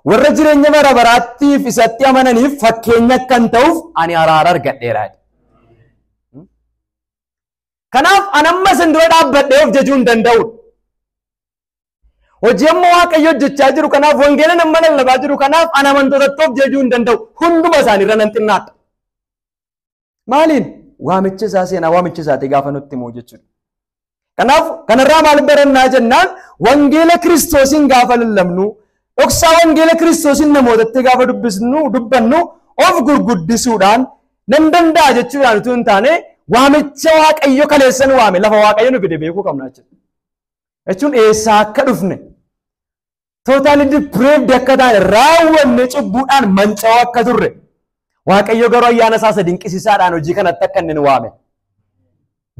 Warra jireenya bara baraattiif isatti amananiif fakkeenya akkan ta'uuf ani araara argadheera. Kanaaf an amma isin dura dhaabbadhee of jajuu hin danda'u. Hojii amma Waaqayyo hojjechaa jiru kanaaf wangeela nama lallabaa jiru kanaaf an amantootatti of jajuu hin danda'u. Hunduma isaaniirra nan xinnaadha. Maaliin? Waamicha isaa seenaa waamicha isaati gaafa nutti himu jechuudha. Kanaaf kanarraa maal barannaa jennaan wangeela kiristoosiin gaafa lallabnu dhoksaa wangeela kiristoosiin namootatti gaafa dubbisnu dubbannu of gurguddisuudhaan nan danda'a jechuudhaan utuu hin taane waamicha waaqayyo kaleessan waame lafa waaqayyo nu fide beekuu qabna jechuudha. Jechuun eessaa akka dhufne totally depraved akka taane raawwanne cubbuudhaan manca'oo akka turre waaqayyo garuu ayyaana isaa isa dinqisiisaadhaan hojii kanatti akka inni nu waame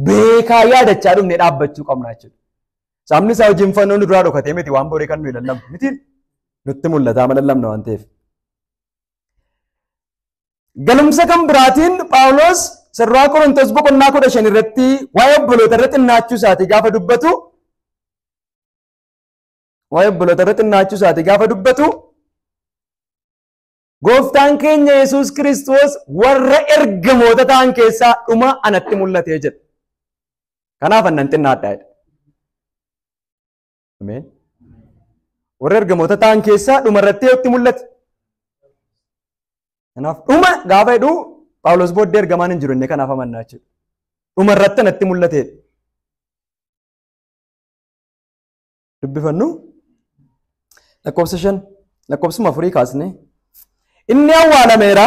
beekaa yaadachaa dhumne dhaabbachuu qabna jechuudha. Sabni isaa hojiin fannoo nu duraa dhokatee miti waan borii kan nuyi lallabnu miti nutti mul'ataa ma lallabna waan ta'eef. Galumsa kan biraatiin Phaawulos sirraa Qorontos boqonnaa kudha shan irratti waa'ee obboloota irratti xinnaachuu isaatii gaafa dubbatu waa'ee obboloota irra xinnaachuu isaati gaafa dubbatu gooftaan keenya Yesuus Kiristoos warra ergamoota ta'an keessaa dhuma anatti mul'atee jedha. Kanaaf annan xinnaadhaa jedha. Ameen. Warra ergamoota ta'an keessaa dhuma irratti eeyyutti mul'ate. Kanaaf dhuma gaafa jedhu Phaawulos booddee ergamaan hin jiru inni kanaaf amannaa jechuudha. Dhuma irratti anatti mul'atee. dubbifannu lakkoofsa shan lakkoofsuma afurii kaasne inni awwaalameera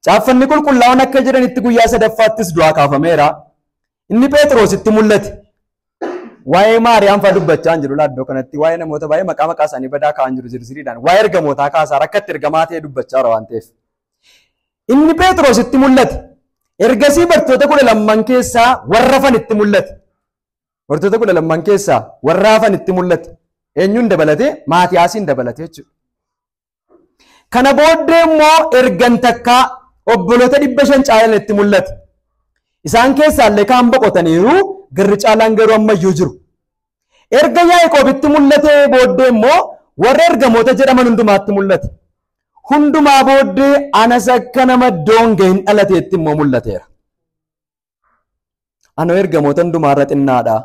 caaffanni qulqullaa'oon akka jedhanitti guyyaa sadaffaattis du'aa kaafameera inni pheexroositti mul'ate waa'ee maariyaam fa'aa dubbachaa hin jiru laaddoo kanatti waa'ee namoota baay'ee maqaa maqaa isaanii badaa kaa'an jiru zirziriidhaan waa'ee ergamootaa kaasaa rakkatti ergamaa ta'ee dubbachaa jira waan ta'eef inni pheexroositti mul'ate ergasii bartoota kudha lamman keessaa warra fanitti mul'ate Mortoota kudha lamman keessaa warra hafan itti mul'ate. Eenyuun dabalatee? Maatiyaasiin dabalatee jechuudha. Kana booddee immoo ergan takkaa obboloota dhibba shan caalan itti mul'ate. Isaan keessaa illee kaan boqotaniiru garri caalaan garuu ammayyuu jiru. Erga Yaaqoobitti mul'atee booddee immoo warra ergamoota jedhaman hundumaatti mul'ate. Hundumaa booddee anas akka nama doonga hin dhalateetti immoo mul'ateera. Anoo ergamoota hundumaa irra xinnaadha.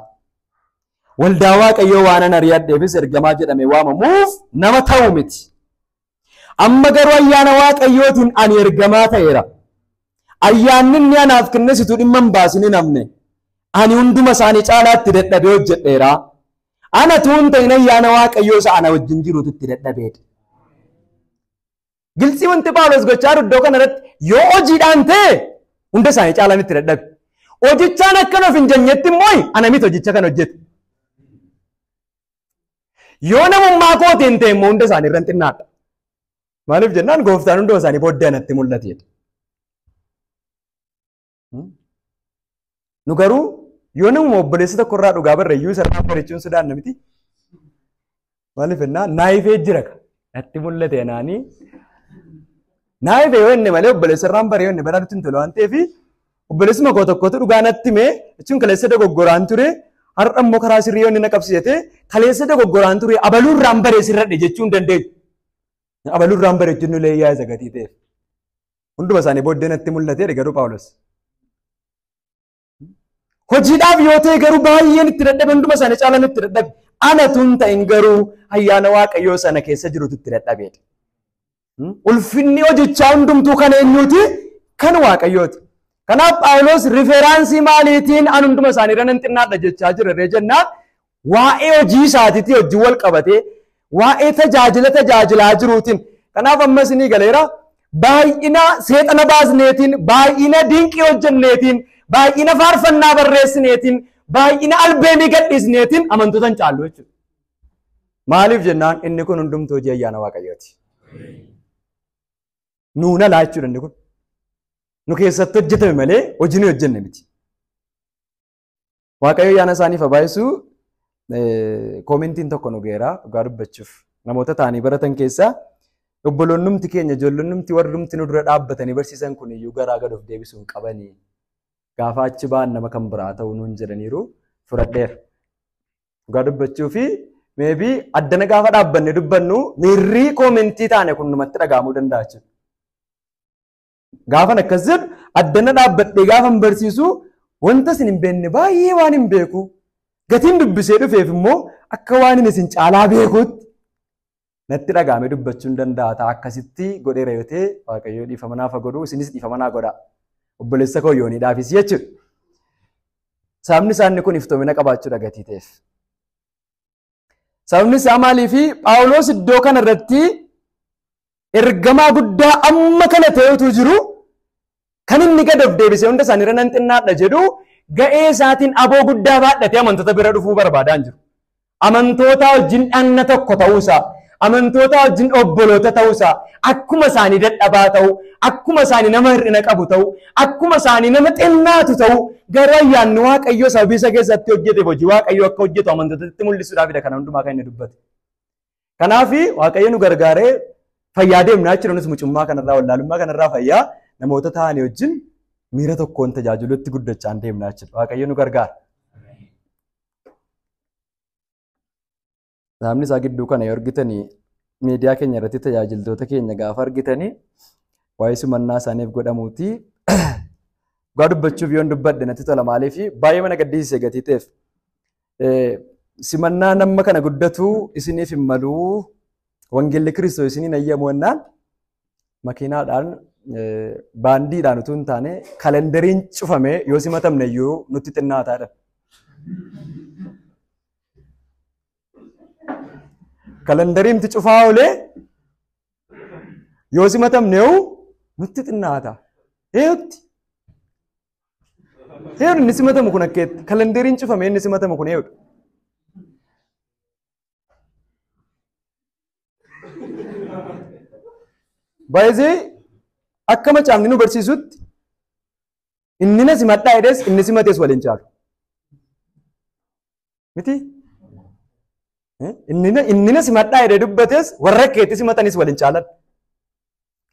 Waldaa Waaqayyoo waanan ari'adheefis ergamaa jedhamee waamamuuf nama ta'u miti. Amma garuu ayyaana Waaqayyootiin ani ergamaa ta'eera. Ayyaanni inni anaaf kennesitu dhimma hin baasin hin hafne. Ani hunduma isaanii caalaatti dadhabee hojjedheera. Ana tuun ta'in ayyaana Waaqayyoo isa ana wajjin jirutu itti dadhabeedha. Giltsii wanti Phaawulos gochaa jiru iddoo kanarratti yoo hojiidhaan ta'e hunda isaanii caalaan itti dadhabe. Hojichaan akkan of hin jennetti immoo ana miti hojicha kan hojjete. Yoo namummaa kootiin ta'e immoo hunda isaanii irra xinnaadha. Maaliif jennaan gooftaan hunduma isaanii booddee anatti mul'ateedha. Nu garuu yoo namuma obboleessa tokko irraa dhugaa barre iyyuu isa irraa barichuun sodaanna miti. Maaliif jennaa naayifee jira ka. Natti mul'ate anaanii. Naayifee yoo inni malee obboleessa irraan baree yoo inni baraa dutti hin tolu waan ta'eef obboleessuma koo tokkotu dhugaa natti himee jechuun kaleessa dogoggoraan ture har'a immoo karaa sirrii yoo inni na qabsiisate kaleessa dogoggoraan ture abaluu irraan baree sirradhe jechuu hin dandeenyu. Abaluu irraan baree jechuun illee yaa'isa gatii ta'eef. Hunduma isaanii booddee natti mul'ateera garuu Phaawulos. Hojiidhaaf yoo ta'e garuu baay'een itti dadhabe hunduma isaanii caalaan itti dadhabe. Ana tun ta'in garuu ayyaana Waaqayyoo sana keessa jirutu itti dadhabeedha. Ulfinni hojichaa hundumtuu kan eenyuuti? Kan Waaqayyooti. Kanaaf Phaawulos riferaansii maaliitiin an hunduma isaaniirra nan xinnaadha jechaa jira ree jennaan Waa'ee hojii isaatiitii hojii wal qabatee waa'ee tajaajila tajaajilaa jiruutiin kanaaf ammas ni galeera baay'ina seexana baasneetiin baay'ina dinqii hojjenneetiin baay'ina faarfannaa barreessineetiin baay'ina albeemii gadhiisneetiin amantoota hin caallu jechuudha. Maaliif jennaan inni kun hundumtuu hojii ayyaana waaqayyooti. Nuun alaa jechuudha inni kun. Nu keessatti hojjetame malee hojii nu hojjenne miti. Waaqayyo yaana isaaniif habaayisu koomentiin tokko nu geera dhugaa dubbachuuf namoota ta'anii baratan keessaa obboloonnumti keenya ijoollonnumti warrumti nu dura dhaabbatanii barsiisan kun iyyuu garaa gad of deebisuu hin qabani gaafa achi ba'an nama kan biraa ta'uu nuun jedhaniiru fudhadheera. Dhugaa dubbachuu fi meebii addana gaafa dhaabbanne dubbannu miirrii koomentii taane kun numatti dhaga'amuu danda'a jechuudha. Gaafan akkas jedhu addana dhaabbadhee gaafan barsiisu wanta isin hin beekne baay'ee waan hin beeku. Gatiin dubbisee dhufeef immoo akka waan inni isin caalaa beekuutti natti dhaga'amee dubbachuun danda'a ta'a akkasitti godheera yoo ta'e waaqayyoo dhiifama naaf haa godhu isinis dhiifama naa godha. Obboleessa koo yoonii dhaafis jechuudha. Sababni isaanii kun iftoomina qabaachuudha gatii ta'eef. Sababni isaa maaliifi Phaawulos iddoo kana irratti ergamaa guddaa amma kana ta'ee utuu jiru kan inni gad of deebisee hunda isaaniirra nan xinnaadha jedhu ga'ee isaatiin aboo guddaa baadhatee amantoota bira dhufuu barbaadaan jiru. Amantootaa wajjin dhagna tokko ta'uusaa Amantootaa wajjin obboloota ta'uu isaa, akkuma isaanii dadhabaa ta'uu, akkuma isaanii nama hir'ina qabu ta'uu, akkuma isaanii nama xinnaatu ta'uu, garuu ayyaanni Waaqayyoo sababii isa keessatti hojjeteef hojii Waaqayyoo akka hojjetu amantootatti mul'isuudhaafidha kana hundumaa kan inni dubbate. Kanaaf Waaqayyo nu gargaaree fayyaa deemnaa jechuudha nus mucummaa kanarraa wallaalummaa kanarraa fayyaa namoota ta'anii wajjin miira tokkoon tajaajilutti guddachaan deemnaa jechuudha. Waaqayyo nu gargaara. Saamni isaa gidduu kana yoo argitanii miidiyaa keenya irratti tajaajiltoota keenya gaafa argitanii waa'ee simannaa isaaniif godhamuuti. Dhugaa dubbachuuf yoon dubbadhe natti tola maaliif baay'ee mana gaddisiise gatii ta'eef. Simannaa nama kana guddatu isiniif hin malu wangeelli kiristoos isiniin ayyamu jennaan makiinaadhaan baandiidhaan utuu hin taane kalendariin cufamee yoo simatamne iyyuu nutti xinnaataa dha. Kalandariin itti cufaa oolee yoo simatamne hoo nutti xinnaata. Eeyutti? Eeyuun inni simatamu kun akkeetti. Kalandariin cufamee inni simatamu kun eeyudha. Baay'ee akka macaafni nu barsiisutti Inni na simadhaa jedhees inni simates wal hin caalu. Miti? Eh, Inni na- inni na simadhaa jedhee dubbates warra keetti simatanis wal hin caalan.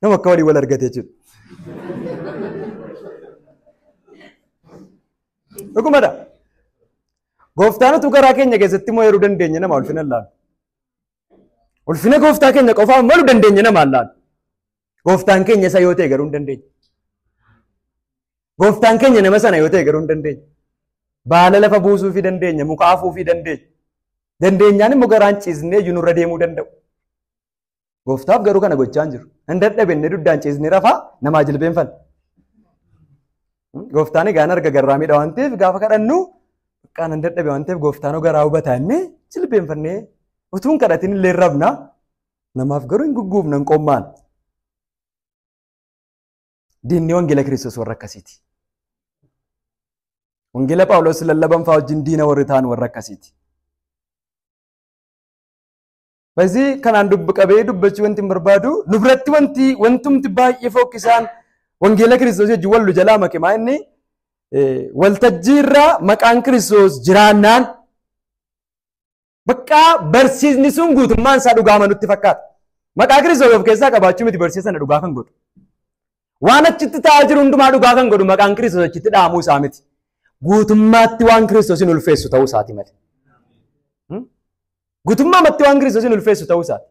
Nama akka walii wal argate jechuudha. Dhugumadha. Gooftaan utuu garaa keenya keessatti immoo yeroo dandeenya nama ulfina hin laannu. Ulfina gooftaa keenya qofaa malu dandeenya nama hin laannu. Gooftaan keenya isa yoo ta'e garuu hin dandeenye. Gooftaan keenya nama sana yoo ta'e garuu hin dandeenye. Baala lafa buusuufii dandeenya, muka afuufii dandeenya. Dandeenyaan immoo garaan ciisnee iyyuu nurra deemuu danda'u. Gooftaaf garuu kana gochaa hin jiru. Hin dadhabinne duddaan ciisnee rafaa namaa jilbeenfanna. Gooftaan egaa hin arga garraa miidha waan ta'eef gaafa kadhannu bakkaan hin dadhabe waan ta'eef gooftaan hoo garaa hubataa inni jilbeenfannee utuu hin kadhatin illee rabna. Namaaf garuu hin gugguufnan qommaan. Diinni wangeela Kiristoos warra akkasiiti. Wangeela Phaawulos lallaban fa'aa wajjin diina warri ta'an warra akkasiiti. Basii kanaan dubbi qabee dubbachuu wanti hin barbaadu nu biratti wanti wantumti baay'ee fokkisaan wangeela Kiristoos wajjin wal jalaa make maa inni waltajjii irraa maqaan Kiristoos jiraannaan Baqqaa barsiisni sun guutummaan isaa dhugaama nutti fakkaata. Maqaa Kiristoos of keessaa qabaachuu miti barsiisa sana dhugaa kan godhu. Waan achitti ta'aa jiru hundumaa dhugaa kan godhu maqaan Kiristoos achitti dha'amuu isaa miti. Guutummaatti waan Kiristoosin ulfeessu ta'uu isaati malee. Guutummaatti waan Kiristoosin ulfeessu ta'uu isaati.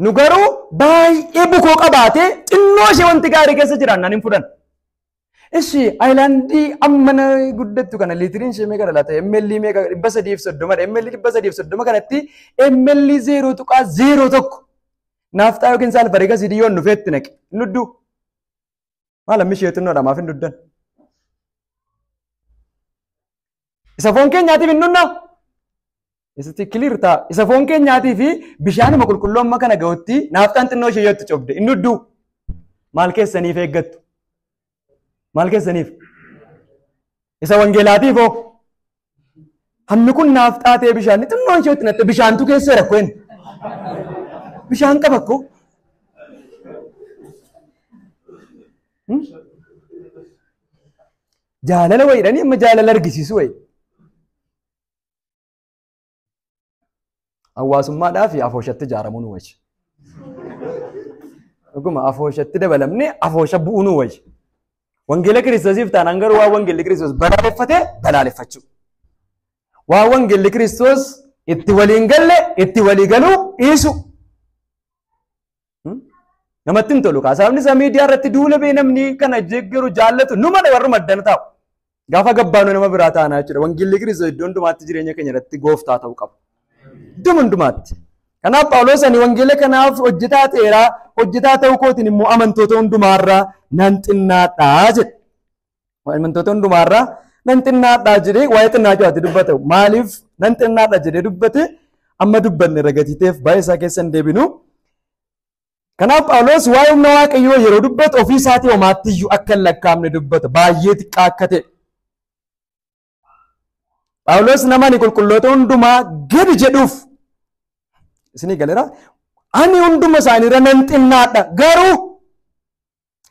nu garuu baay'ee bukoo qabaatee xinnoo ishee wanti gaarii keessa jiraan nan hin fudhan. Ishi ayilaandii amma na guddattu kana liitiriin ishee meeqa dhalata? ML meeqa dhibba sadii fi soddoma dha. ML dhibba sadii fi soddoma kanatti ML zeeroo tuqaa zeeroo tokko naafxaa yookiin saalfariga sidii yoon dhufeetti naqe. Nudduu. Maal ammi ishee xinnoodha maaf hin duddan? Isa foon keenyaatiif hin dhunna? Isatti kiliir ta'a. Isa foon keenyaatii fi bishaanuma qulqulluu amma kana ga'utti naafxaan xinnoo ishee yoo itti cobde hin dudduu? Maal keessaniif eeggattu? Maal keessaniif? Isa wangeelaatiif hoo? Hammi kun naaf xaatee bishaan xinnoo isheetti natte bishaantu keessee rakkoo inni. Bishaan qaba akkoo. Jaalala wayiidhanii amma jaalala argisiisu wayii. Hawaasummaadhaa fi afooshatti ijaaramuu nu wayya. Dhuguma afooshatti dabalamnee afoosha bu'uu nu wayya. Wangeela Kiristoosiif taanaan garuu waan wangeelli Kiristoos balaaleffate balaaleffachuu. Waan wangeelli Kiristoos itti waliin galle itti walii galuu dhiisu. Namatti hin tolu kaa sababni isaa miidiyaa irratti duula bee namni kana jeggeru jaallatu numa dha warri maddan taa'u. Gaafa gabbaanu nama biraa taanaa jechuudha. Wangeelli Kiristoos iddoo hundumaatti jireenya keenya irratti gooftaa ta'uu qaba. Iddoo hundumaatti. Kanaaf Phaawulos ani wangeela kanaaf hojjetaa ta'eera hojjetaa ta'uu kootiin immoo amantoota hundumaarraa nan xinnaadhaa jedhe. Waa'immantoota hundumaarraa nan xinnaadhaa jedhee waa'ee xinnaachuu ati dubbate maaliif nan xinnaadha jedhee dubbate amma dubbanne ragatiiteef baay'ee isaa keessa hin deebinu. Kanaaf Phaawulos waa'ee humna Waaqayyoo yeroo dubbatu ofii isaatii homaatti iyyuu akka hin lakkaa'amne dubbata baay'ee xiqqaa akka ta'e. Phaawulos namani qulqulloota hundumaa gadi jedhuuf isinii galera ani hunduma isaaniirra nan xinnaadha garuu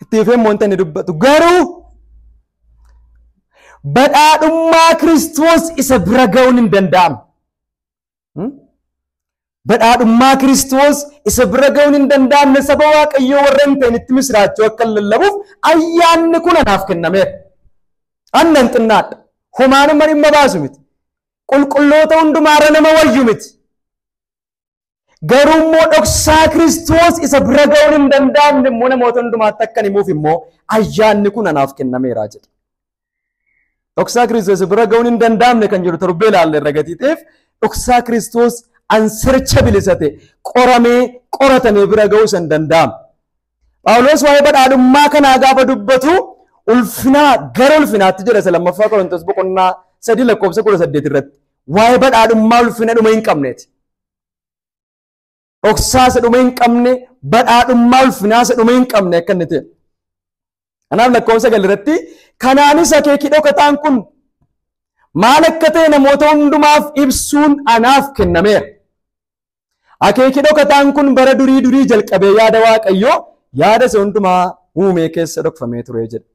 itti fufee immoo wanta inni dubbatu garuu badhaadhummaa Kiristoos isa bira ga'uun hin danda'amu. Badhaadhummaa Kiristoos isa bira ga'uun hin danda'amne saba Waaqayyoo warra hin ta'initti misiraachoo akka lallabuuf ayyaanni kun anaaf kennameera. Annan xinnaadha. Homaanuma dhimma baasu miti. Qulqulloota hundumaarra nama wayyu miti. Garuu immoo dhoksaa Kiristoos isa bira ga'uun hin danda'amne immoo namoota hundumaatti akkan himuuf immoo ayyaanni kun anaaf kennameera jedha. Dhoksaa Kiristoos bira ga'uun hin danda'amne kan jedhu torbee ilaalle irra gatii ta'eef dhoksaa Kiristoos ansircha bilisa ta'e qoramee qoratamee bira ga'uu san danda'ama. Phaawulos waa'ee badhaadhummaa kanaa gaafa dubbatu ulfinaa gara ulfinaatti jedha isa lammaffaa Qorontos boqonnaa sadii lakkoofsa kudha saddeet irratti waa'ee badhaadhummaa ulfina dhuma hin qabneeti. dhoksaa isa dhuma hin qabne badhaadhummaa ulfinaa isa dhuma hin qabne akka inni ta'e. Kanaaf lakkoofsa sagal irratti kanaanis akeeki dhokataan kun maal akka ta'e namoota hundumaaf ibsuun anaaf kennameera. Akeeki dhokataan kun bara durii durii jalqabee yaada Waaqayyoo yaada isa hundumaa uumee keessa dhokfamee ture jedha.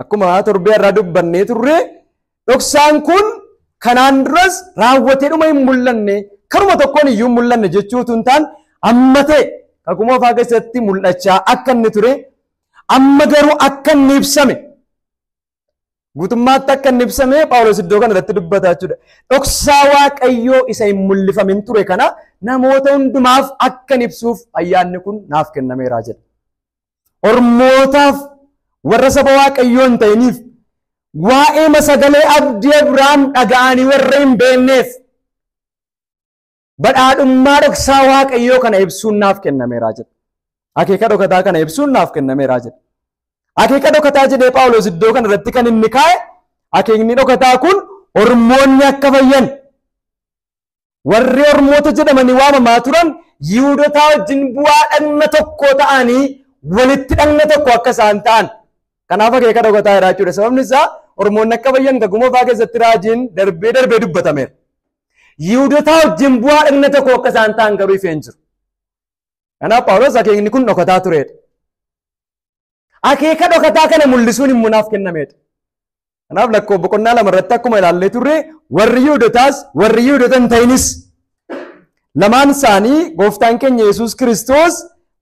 akkuma torbee irraa dubbannee turre dhoksaan kun kanaan duras raawwatee dhuma hin mul'anne karuma tokkoon iyyuu hin mul'anne jechuu utuu hin taane amma ta'e kakuu moofaa keessatti mul'achaa akka inni ture amma garuu akka inni ibsame guutummaatti akka inni ibsame Phaawulos iddoo kana irratti dubbata jechuudha. Dhoksaa Waaqayyoo isa hin mul'ifamin ture kana namoota hundumaaf akka inni ibsuuf ayyaanni kun naaf kennameera jedha. Ormootaaf warra saba Waaqayyoo hin ta'iniif waa'eema sagalee abdii Abrahaam dhaga'anii warra hin beekneef badhaadhummaa dhoksaa Waaqayyoo kana ibsuun naaf kennameera jedha. Akeeka dhokataa kana ibsuun naaf kennameera jedha. Akeeka dhokataa jedhee Phaawulos iddoo kana irratti kan inni kaa'e akeekni dhokataa kun ormoonni akka fayyan Warri Ormoota jedhamanii waamamaa turan Yihuudotaa wajjin bu'aa dhagna tokkoo ta'anii walitti dhagna tokko akka isaan ta'an. Kanaaf akeeka dhokataa jira jechuudha. Sababni isaa Ormoonni akka bayyan gagumoofaa keessatti raajiin darbee darbee dubbatameera. Yihuudotaa wajjin bu'aa dhagna tokko akka isaan ta'an garuu ifee hin jiru. Kanaaf Phaawulos akeekni kun dhokataa tureedha. Akeeka dhokataa kana mul'isuun immoo naaf kennameedha. Kanaaf lakkoo boqonnaa lama irratti akkuma ilaallee turre warri Yihudotaas warri Yihudota hin ta'inis lamaan isaanii gooftaan keenya Yesuus Kiristoos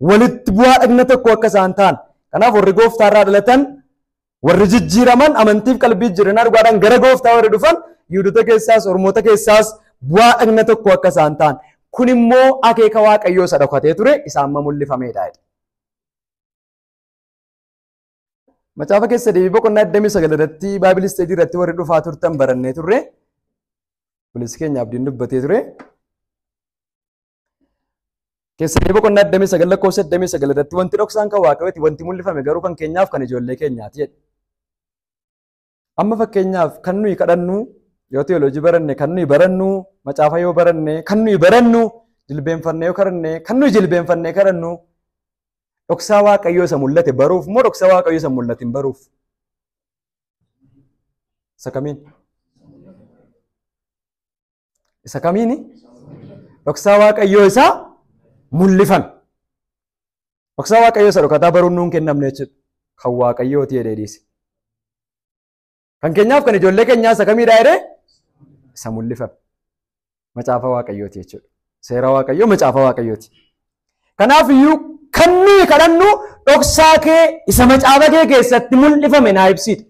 walitti bu'aa dhagna tokko akka isaan ta'an. Kanaaf warri gooftaa irraa dhalatan warri jijjiiraman amantiif qalbii jijjiirannaa dhugaadhaan gara gooftaa warri dhufan Yihudota keessaas Oromoota keessaas bu'aa dhagna tokko akka isaan ta'an. Kun immoo akeeka Waaqayyoo isa dhokatee ture isaan mul'ifameedha. Macaafa keessa deebii boqonnaa 29 irratti Baayibili isteejii irratti warri dhufaa turtan barannee turre. Obboleessi keenya abdiin dubbatee ture. Keessa deebii boqonnaa 29 lakkoofsa 29 irratti wanti dhoksaan kan waaqayyooti wanti mul'ifame garuu kan keenyaaf kan ijoollee keenyaati jedhe. Amma fakkeenyaaf kan nuyi kadhannu yoo teoloojii baranne kan nuyi barannu macaafa yoo baranne kan nuyi barannu jilbeenfannee yoo kadhanne kan nuyi jilbeenfannee kadhannu dhoksaa waaqayyoo isa mul'ate baruuf moo dhoksaa waaqayyoo isa mul'atin baruuf? Isa kamiin? Isa kamiini? Dhoksaa Waaqayyoo isa mul'ifame. Dhoksaa Waaqayyoo isa dhokataa baruun nuun kennamne jechuudha. Kan Waaqayyooti jedhee dhiise. Kan keenyaaf kan ijoollee keenyaa isa kamiidhaa jedhee isa mul'ifame. Macaafa Waaqayyooti jechuudha. Seera Waaqayyoo macaafa Waaqayyooti. Kanaaf iyyuu kan nuyi kadhannu dhoksaa kee isa macaafa kee keessatti mul'ifame naa ibsiidha.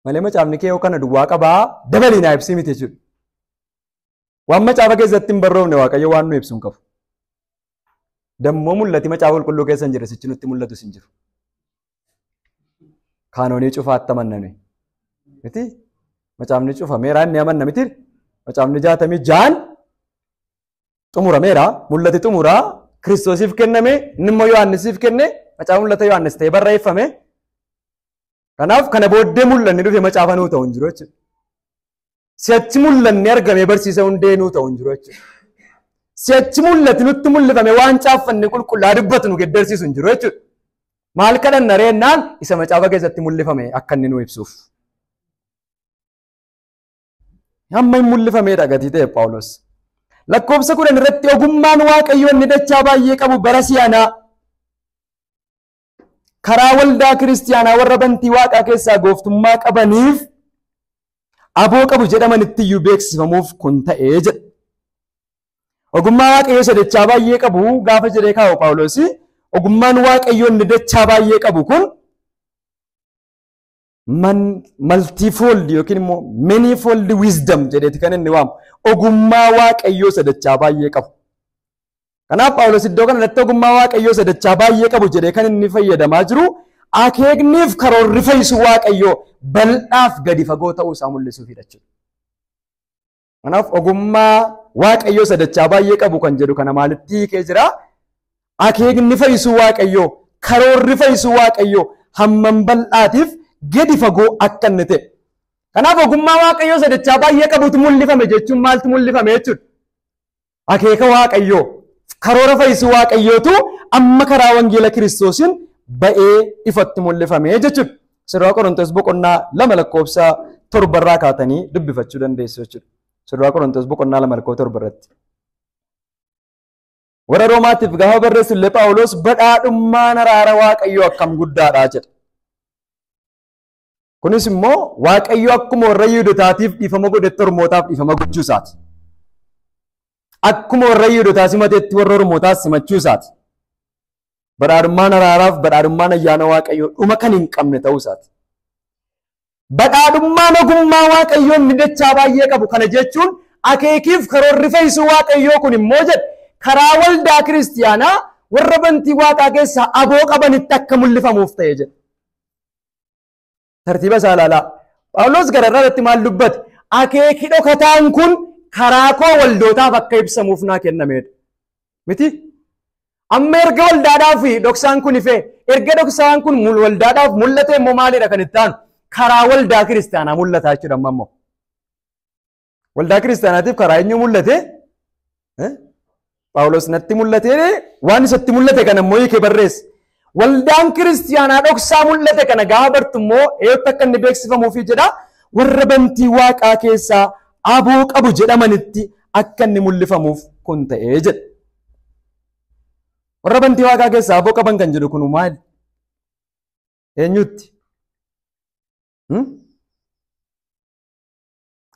Malee macaafni kee yoo kana duwwaa qabaa dabalii naa ibsii miti jechuudha. Waan macaafa keessatti hin barroofne Waaqayyo waan nu ibsu hin qabu. Dammoo mul'ati macaafa qulqulluu keessa hin jirre sichi nutti mul'atus hin jiru. Kaanoonii cufaatti amanname. Miti macaafni cufameera inni amanna miti macaafni jaatamii jaan xumurameera mul'ati xumuraa kiristoosiif kenname inni immoo yohaannisiif kenne macaafa mul'ata yohaannis ta'ee barreeffame Kanaaf kana booddee mul'anni dhufe macaafa nuu ta'u hin jiru jechuudha. Si'achi mul'anni argamee barsiisa hundee nuu ta'u hin jiru jechuudha. Si'achi mul'ati nutti mul'ifame waan caaffanne qulqullaa dubbatu nu geddarsiisu hin jiru jechuudha. Maal kadhanna reennaan isa macaafa keessatti mul'ifame akka inni nuu ibsuuf. Hamma hin mul'ifameedha gatii ta'e Phaawulos. Lakkoofsa kudhan irratti ogummaan waaqayyoo inni dachaa baay'ee qabu bara si'anaa karaa waldaa kiristiyaanaa warra bantii waaqaa keessaa gooftummaa qabaniif aboo qabu jedhamanitti iyyuu beeksifamuuf kun ta'ee jedha. Ogummaa waaqayyoo isa dachaa baay'ee qabu gaafa jedhee kaa'u Phaawulosi ogummaan waaqayyoo inni dachaa baay'ee qabu kun maltiifooldi yookiin immoo meniifooldi wiizdam jedheeti kan inni waamu ogummaa waaqayyoo sadachaa baay'ee qabu. Kanaaf Phaawulos iddoo kana irratti ogummaa waaqayyoo sadachaa baay'ee qabu jedhee kan inni fayyadamaa jiru akeekniif karoorri fayyisuu waaqayyoo bal'aaf gadi fagoo ta'uu isaa mul'isuufidha jechuudha. Kanaaf ogummaa waaqayyoo sadachaa baay'ee qabu kan jedhu kana maalitti hiikee jira? Akeekni fayyisuu waaqayyoo, karoorri fayyisuu waaqayyoo hammam bal'aatiif gadi fagoo akka inni ta'e. Kanaaf ogummaa waaqayyoo sadachaa baay'ee qabutu mul'ifame jechuun maaltu mul'ifame jechuudha? Akeeka Waaqayyoo, karoora fayyisuu Waaqayyootu amma karaa wangeela Kiristoosiin ba'ee ifatti mul'ifame jechuudha. Sirraa Qorontoos boqonnaa lama lakkoofsa torbarraa kaatanii dubbifachuu dandeessu jechuudha. Sirraa Qorontoos boqonnaa lama lakkoofsa torbarratti. Warra Roomaatiif gaafa barreessu illee Phaawulos badhaadhummaan araara Waaqayyoo akkam guddaadha jedha. Kunis immoo Waaqayyo akkuma warra Yihudotaatiif dhiifama godhetti Ormootaaf dhiifama gochuu isaati. Akkuma warra Yihudotaa simatetti warra Ormootaas simachuu isaati. Badhaadhummaan araaraaf badhaadhummaan ayyaana Waaqayyoo dhuma kan hin qabne ta'uu isaati. Badhaadhummaan ogummaa Waaqayyoo inni dachaa baay'ee qabu kana jechuun akeekiif karoorri fayyisuu Waaqayyoo kun immoo jedhe karaa waldaa kiristiyaanaa warra bantii waaqaa keessaa aboo qabanitti akka mul'ifamuuf ta'e jedhe. Tartiiba isaa ilaalaa. Phaawulos gara irraa irratti maal dubbate? Akeeki dhokataan kun karaa koo waldootaaf akka ibsamuuf naa kennameedha. Miti? Amma erga waldaadhaaf dhoksaan kun ife, erga dhoksaan kun waldaadhaaf mul'ate immoo maalidha kan itti aanu? Karaa waldaa kiristaanaa mul'ataa jechuudha amma immoo. Waldaa kiristaanaatiif karaa eenyu mul'ate? Phaawulos natti mul'ate waan isatti mul'ate kana immoo hiikee barreesse. Waldaan kiristaanaa dhoksaa mul'ate kana gaafa bartu immoo eeyyatti akka inni beeksifamuufi jedha warra bantii waaqaa keessaa aboo qabu jedhamanitti akka inni mul'ifamuuf kun ta'ee jedha. Warra bantii waaqaa keessaa aboo qaban kan jedhu kun maali? Eenyutti?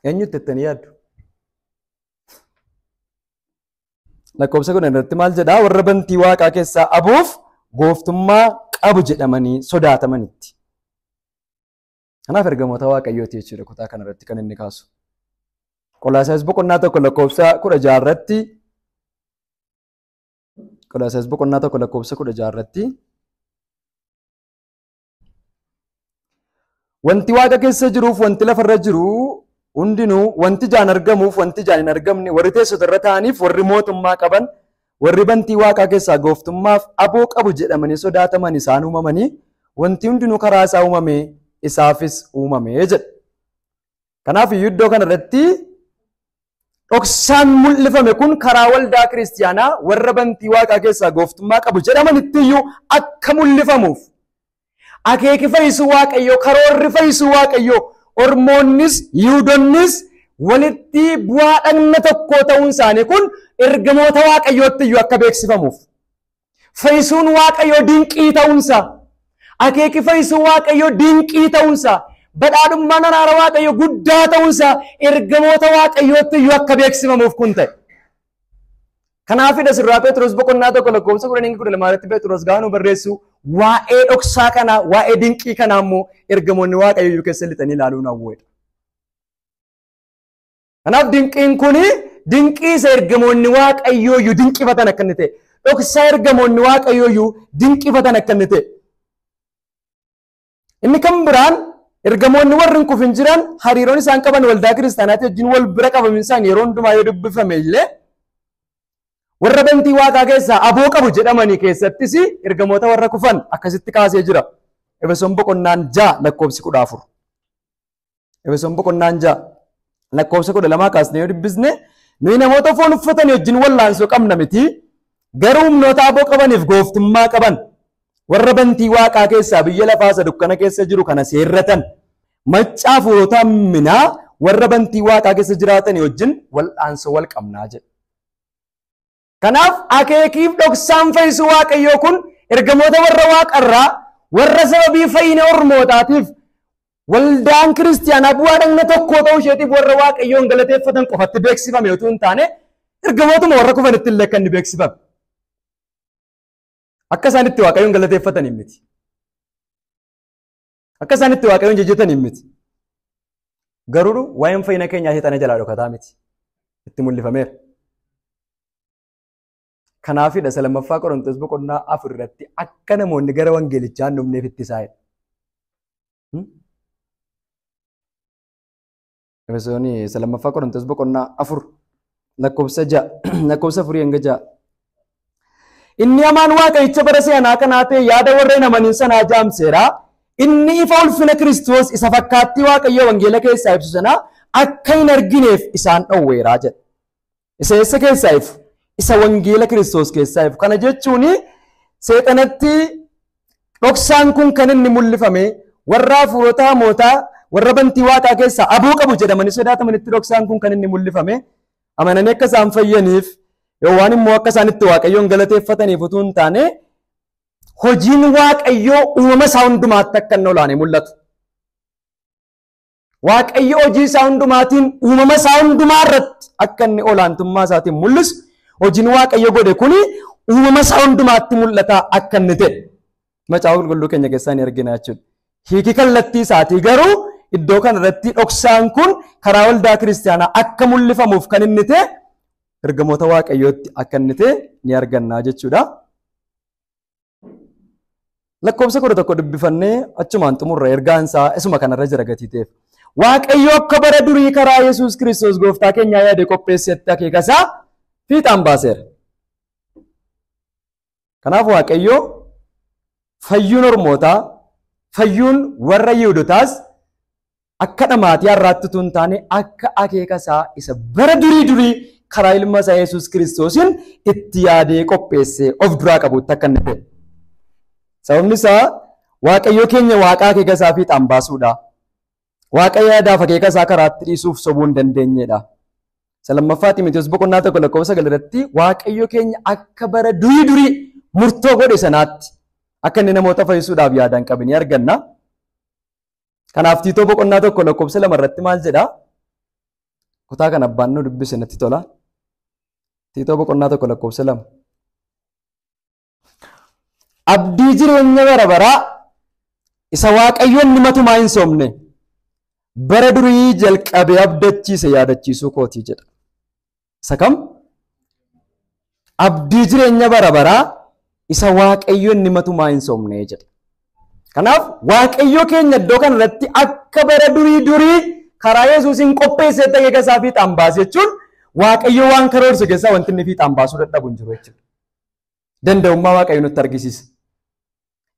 Eenyutti jettanii yaaddu? Lakkoofsa kudhan irratti maal jedhaa? Warra bantii waaqaa keessaa abuuf gooftummaa qabu jedhamanii sodaatamanitti. Kanaaf ergamoota waaqayyooti jechuudha kutaa kana irratti kan inni kaasu. Qolaasaas boqonnaa tokko lakkoofsa kudha jaha irratti Qolaasaas boqonnaa tokko lakkoofsa kudha jaha irratti Wanti waaqa keessa jiruuf wanti lafarra jiru hundinuu wanti ijaan argamuuf wanti ijaan hin argamne warri teessota irra taa'aniif warri mootummaa qaban warri bantii waaqaa keessaa gooftummaaf aboo qabu jedhamanii sodaataman isaan uumamanii wanti hundinuu karaa isaa uumame isaafis uumame jedha. Kanaaf iyyuu iddoo kana irratti dhoksaan mul'ifame kun karaa waldaa kiristiyaanaa warra bantii waaqaa keessaa gooftummaa qabu jedhamanitti iyyuu akka mul'ifamuuf akeeki fayyisuu waaqayyoo karoorri fayyisuu waaqayyoo ormoonnis yihuudonnis walitti bu'aa dhagna tokkoo ta'uun isaanii kun ergamoota waaqayyootti iyyuu akka beeksifamuuf Fayyisuun Waaqayyoo dinqii ta'uunsa. Akeeki fayyisuu Waaqayyoo dinqii ta'uunsa. Badhaadhummaan araara Waaqayyoo guddaa ta'uunsa ergamoota Waaqayyootti iyyuu akka beeksifamuuf kun ta'e. Kanaafidha sirraa Pheexroos boqonnaa tokko lakkoofsa kudhan hanga kudha lamaa irratti Pheexroos gaanuu barreessu waa'ee dhoksaa kanaa waa'ee dinqii kanaa immoo ergamoonni Waaqayyoo iyyuu keessa lixanii ilaaluun hawweedha. Kanaaf dinqiin kun dinqii isa ergamoonni waaqayyoo iyyuu dinqifatan akka inni ta'e dhoksaa ergamoonni waaqayyoo iyyuu dinqifatan akka inni ta'e. Inni kan biraan ergamoonni warri hin kufin jiran hariiroon isaan qaban waldaa kiristaanaatii wajjin wal bira qabamin isaan yeroo hundumaa yoo dubbifame illee warra bantii waaqaa keessaa aboo qabu jedhamanii keessattis ergamoota warra kufan akkasitti kaasee jira. Efesoon boqonnaan ja'a lakkoofsi kudha afur. Efesoon boqonnaan ja'a lakkoofsa kudha lamaa kaasnee yoo dubbisne nuyi namoota foon uffatan wajjin wallaansoo qabna miti garuu humnoota aboo qabaniif gooftummaa qaban warra bantii waaqaa keessaa biyya lafaa isa dukkana keessa jiru kana seerratan maccaa fuurota minaa warra bantii waaqaa keessa jiraatan wajjin wallaansoo wal qabnaa jedha. Kanaaf akeekiif dhoksaan fayyisuu Waaqayyoo kun ergamoota warra waaqarraa warra sababii fayyina ormootaatiif waldaan kiristiyaanaa bu'aa dhagna tokkoo ta'uu isheetiif warra Waaqayyoon galateeffatan qofatti beeksifame utuu hin taane ergamootuma warra kufanitti illee kan inni beeksifame. Akka isaan itti Waaqayyoon galateeffataniin miti. Akka isaan itti waaqayyoon jajjataniin miti. Garuu waa'een fayyina keenyaa seexana jalaa dhokataa miti. Itti mul'ifameera. Kanaafidha isa lammaffaa Qorontoos boqonnaa afur irratti akka namoonni gara wangeelichaa hin dhufneef itti isaa'edha. Efesooni isa lammaffaa Qorontos boqonnaa afur lakkoofsa ja'a lakkoofsa afurii hanga ja'a. Inni hamaan waaqayyicha bara si'anaa kanaa ta'e yaada warreen amaniin sanaa jaamseera. Inni ifa ulfina Kiristoos isa fakkaattii waaqayyoo wangeela keessaa ibsu sana akka hin argineef isaan dhowweera jedha. Isa eessa keessaa ifu? Isa wangeela Kiristoos keessaa ifu. Kana jechuun seexanatti dhoksaan kun kan inni mul'ifame warra hafuurota hamootaa warra bantii waaqaa keessaa aboo qabu jedhamanii sodaatamanitti dhoksaan kun kan inni mul'ifame amananii akka isaan fayyaniif yookaan immoo akka isaan itti waaqayyoon galateeffataniif utuu hin taane hojiin waaqayyoo uumama isaa hundumaatti akka inni olaanee mul'atu. Waaqayyo hojii isaa hundumaatiin uumama isaa hundumaa irratti akka inni olaantummaa isaatiin mul'isu hojiin Waaqayyo godhe kuni uumama isaa hundumaatti mul'ata akka inni ta'e macaafa qulqulluu keenya keessaa ni argina jechuudha. Hiiki kallattii isaatii garuu iddoo kana irratti dhoksaan kun karaa waldaa kiristaanaa akka mul'ifamuuf kan inni ta'e ergamoota Waaqayyootti akka inni ta'e ni arganna jechuudha. Lakkoofsa kudha tokko dubbifannee achumaan xumurra ergaan isaa isuma kanarra jira gatii ta'eef. Waaqayyo akka bara durii karaa Yesuus Kiristoos gooftaa keenyaa yaade qopheessetti akeeka isaa fiixaan baaseera. Kanaaf Waaqayyo fayyuun ormootaa, fayyuun warra Yihudotaas akka dhamaatii har'aatti utuu hin taane akka akeeka isaa isa bara durii durii karaa ilma isaa Yesuus Kiristoosiin itti yaadee qopheessee of duraa qabutti akka inni ta'e. Sababni isaa Waaqayyo keenya waaqa akeeka isaa fiixaan baasuudha. Waaqa yaadaaf akeeka isaa karaatti dhiisuuf sobuu hin dandeenyedha. Isa lammaffaa Ximotewos boqonnaa tokko lakkoofsa sagal irratti Waaqayyo keenya akka bara durii durii murtoo godhe sanaatti akka inni namoota fayyisuudhaaf yaadaan qabu ni arganna. Kanaaf Tiitoo boqonnaa tokko lakkoofsa lama irratti maal jedha? Kutaa kan abbaan nu dubbise natti tola. Tiitoo boqonnaa tokko lakkoofsa lama. Abdii jireenya bara baraa isa waaqayyoon ni matumaa hin soomne bara durii jalqabee abdachiise yaadachiisuu kootii jedha. Isa kam? Abdii jireenya bara baraa isa Waaqayyo inni matumaa hin sobne jedha. Kanaaf Waaqayyo keenya iddoo kana irratti akka bara durii durii karaa Yesuusiin qopheessee dhageega isaa fiixaan baase jechuun Waaqayyo waan karoorse keessaa wanti inni fiixaan baasuu dadhabu hin jiru jechuudha. Danda'ummaa Waaqayyo nutti argisiisa.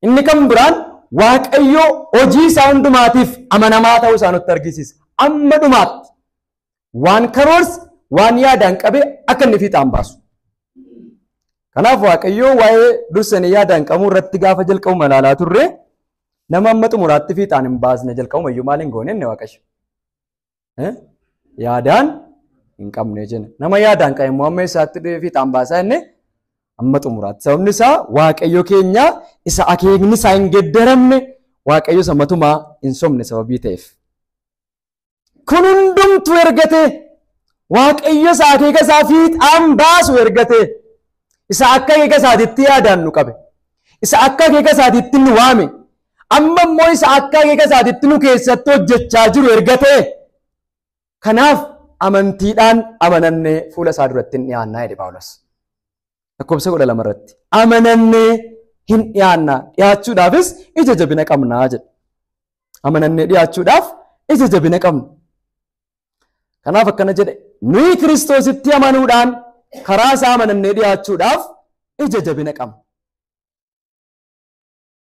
Inni kan biraan Waaqayyo hojii isaa hundumaatiif amanamaa ta'uu isaa nutti argisiisa. Amma dhumaatti waan karoorse waan yaadaan qabe akka inni fiixaan baasu. Kanaaf Waaqayyo waa'ee dursanii yaadaan qabuu irratti gaafa jalqabu malaalaa turre nama amma xumuraatti fiixaan hin baasne jalqabuma iyyuu maal hin goone inni Waaqayyo. eh, yaadaan hin qabne jenna. Nama yaadaan qabe immoo amma isaatti dhufee fiixaan baasaa inni amma xumuraatti. Sababni isaa waaqayyo keenya isa akeekni isaa hin geddaramne waaqayyo isa matumaa hin sobne sababii ta'eef. Kun hundumtu ergate waaqayyo isa akeeka isaa fiixaan baasu ergate isa akka akeeka isaatitti yaadaan nu qabe isa akka akeeka isaatitti nu waame Amma immoo isa akka akeeka isaatitti nu keessatti hojjechaa jiru erga ta'e kanaaf amantiidhaan amanannee fuula isaa duratti hin dhiyaannaa jedhe Phaawulos. Lakkoofsa kudha lama irratti amanannee hin dhiyaannaa dhiyaachuudhaafis ija jabina qabnaa jedhe. Amanannee dhiyaachuudhaaf ija jabina qabna. Kanaaf akkana jedhe nuyi kiristoositti amanuudhaan karaa isaa amanannee dhiyaachuudhaaf ija jabina qabna.